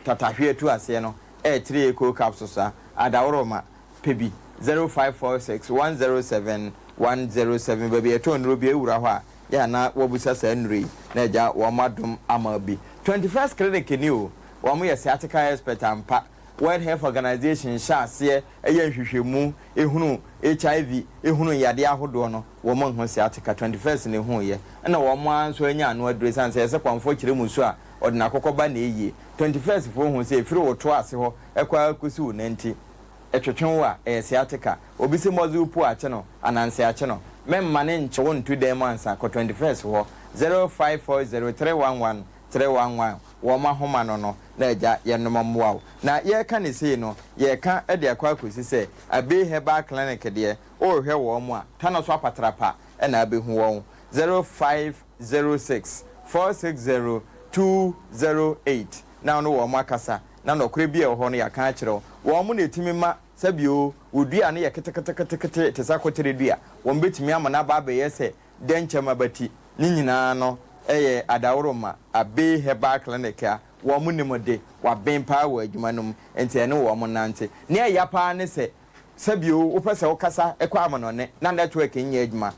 twatahweɛ tu aseɛ no yɛ three coal capsules a adaworoma pɛ bi, zero five four six one zero seven one zero seven. Baabi a yɛtɔn nnuro biara wura hɔ a, yɛ a na wɔbisa saa nnuro yi na agya wɔn adom ama bi. Twenty First Clinic ni o, wɔn yɛ sciatica expert ampa. World Health Organization hyɛ aseɛ yɛ nhwehwɛmu hunu HIV hunu yadeɛ ahodoɔ no, wɔn nho sɛ ateka twenty first na ɛhuu yɛ, ɛna wɔn ara nso anya ano aduro ɛsiane sɛ yɛsɛ kwanfoɔ kyerɛ mu su a ɔde no akɔkɔ ba na ɛyie. Twenty first foɔ hu sɛ ɛfiri wo to ase hɔ kɔ ara kɔsi wo nanti, ɛtwetwe wo a, ɛyɛ sciatica. Obi se mɔdze wo pu akye no anaa nse akye no, mɛmma ne nkyɛ wo nto dan mu ansa, kɔ twenty first hɔ, zero five four zero three one one kyerɛ wanwa wɔn ahoma no no na Agya yɛnom mmoa wo na yɛreka no sei no yɛreka de akɔ akɔsi sɛ Abei Herbal Clinic deɛ worehwɛ wɔn a tano so apatrapa na abɛhu wɔn zero five zero six four six zero two zero eight na wo ne wɔn akasa na nɔkorɛ bi a ɛwɔ hɔ no yɛaka akyerɛ wo wɔn na ɛtumi ma sɛbi o wo dua no yɛ keteketekete te sɛ akotere dua wɔn bɛtumi ama no aba abɛyɛ sɛ dɛnkyɛm aba ti, ne nyinaa no yɛ adaworoma a Bay Herbal Clinic a wɔnim de, wɔaben paa wɔ adwuma no mu, enti ɛne wɔn nante. Nea ɛya paa ne sɛ, sɛ bio wopɛ sɛ wokasa kɔ amanɔnne na network nyɛ adwuma,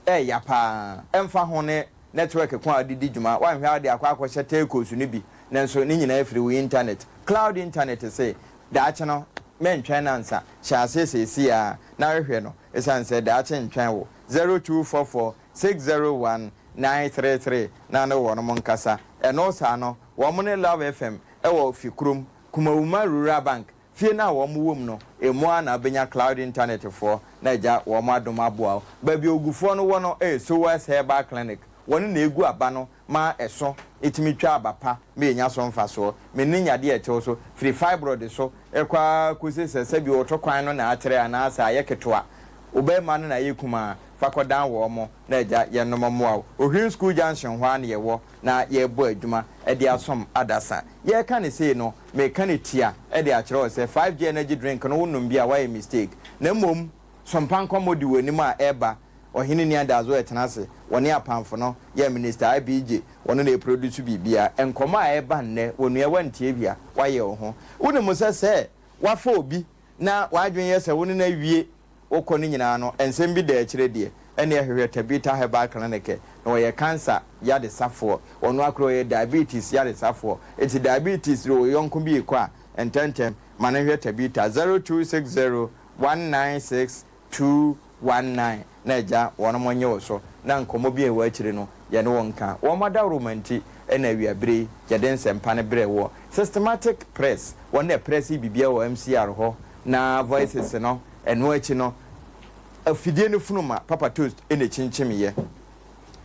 ɛya paa. Ɛmfa ho ne network ko a wode di dwuma, woanhwɛ a wode akɔ akɔhyɛ telcos no bi, nanso ne nyinaa firi wo intanɛt, cloud intanɛt se, daakye no, mɛntwɛn nnansa, hyɛ aseɛ seesei ara na hwehwɛ no, esiane sɛ daakye ntwɛn wo. zero two four four six zero one nine three three na ne wɔnom nkasa. Ɛno saa no, wɔn ne Love FM wɔ fi kurom, Kumawuma Rural Bank, fie no a wɔn wɔ mu no, emu ara na wobɛnya Cloud Internet foɔ na agya wɔn adom aboa wo. Baabi a Ogufoɔ no wɔ no yɛ Sowers Herbal Clinic, wɔn na ɛgu aba no ma ɛso tumi twa aba pa ma yɛnya so mfasoɔ. Me ne yadeɛ a ɛtew so, firi fibroid so kɔ ara kɔsi sɛ sɛbi ɔto kwan no na atrɛ anaa sɛ ayɛ ketewa, ɔbarima no na ayɛ kumaa, fa kɔdan wɔn na Agya yɛnom mmoa wo. Ohwiri School Junction hɔ ara na yɛwɔ na yɛrebɔ adwuma de asom adasa. Yɛreka no sei no, mereka no tia de akyerɛ wo sɛ 5G Energy Drink no wonom bi a woayɛ mistake na mmom So mpa nkɔmmɔ di w'anim a ɛreba Ɔhene nni adaeso ɛtena ase Wɔne apamfo no yɛ Minister IBJ Wɔno na ɛproduce biribia Nkɔmmɔ a ɛreba nnɛ Onua wantie hwee a wayɛ wo ho Wonim sɛ sɛ wafa obi na w'adwene yɛ sɛ wo ne no awie Wo kɔ no nyinaa no nsɛm bi da akyire deɛ Ɛneɛ hwehwɛ Tabitha Herbal Clinic ɛ na ɔyɛ cancer yaresafoɔ Ɔno akora ɔyɛ diabetes yaresafoɔ Nti diabetes de wo yɔnko bi rekɔ a ntɛntɛm ma no nhwɛ Tabitha 0260 One nine six two one nine na agya wɔnom nye wo so na nkɔmmɔ bi a ɛwɔ akyire no yɛne wo nka. Wɔn adaworoma nti na awiabere yi yɛde nsɛmpa no brɛ woɔ. Systematic Press wɔn na ɛprɛsee biribiara wɔ MCR hɔ na Voices no ɛno akyi no afidie no funuma Papa Toast na ɛkyinkyimiiɛ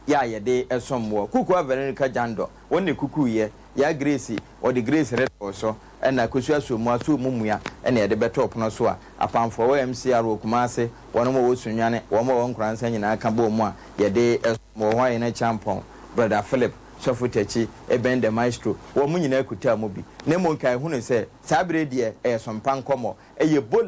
yɛ a yɛde som woɔ. Kukua Veronica Jandor wɔn na ɛkukuiɛ. Yaa Grace Wɔde grease retɔɔ so na kosua soo mu asoo mu mua na yɛde bɛtoo pono so a apamfoɔ wɔ MCR wɔ Kumase, wɔnom a wɔwɔ Sunyane, wɔn a wɔwɔ Nkoransa nyinaa ka bɔɔ mu a yɛde som wɔ hɔ a yɛne Kyampɔn, Brother Philip, Sɔfo Takyi, Eben the Maestro, wɔnom nyinaa kutaa mu bi. Na mmom nka yɛhunuu sɛ saa berɛ yi deɛ ɛyɛ sompa nkɔmmɔ, ɛyɛ bola.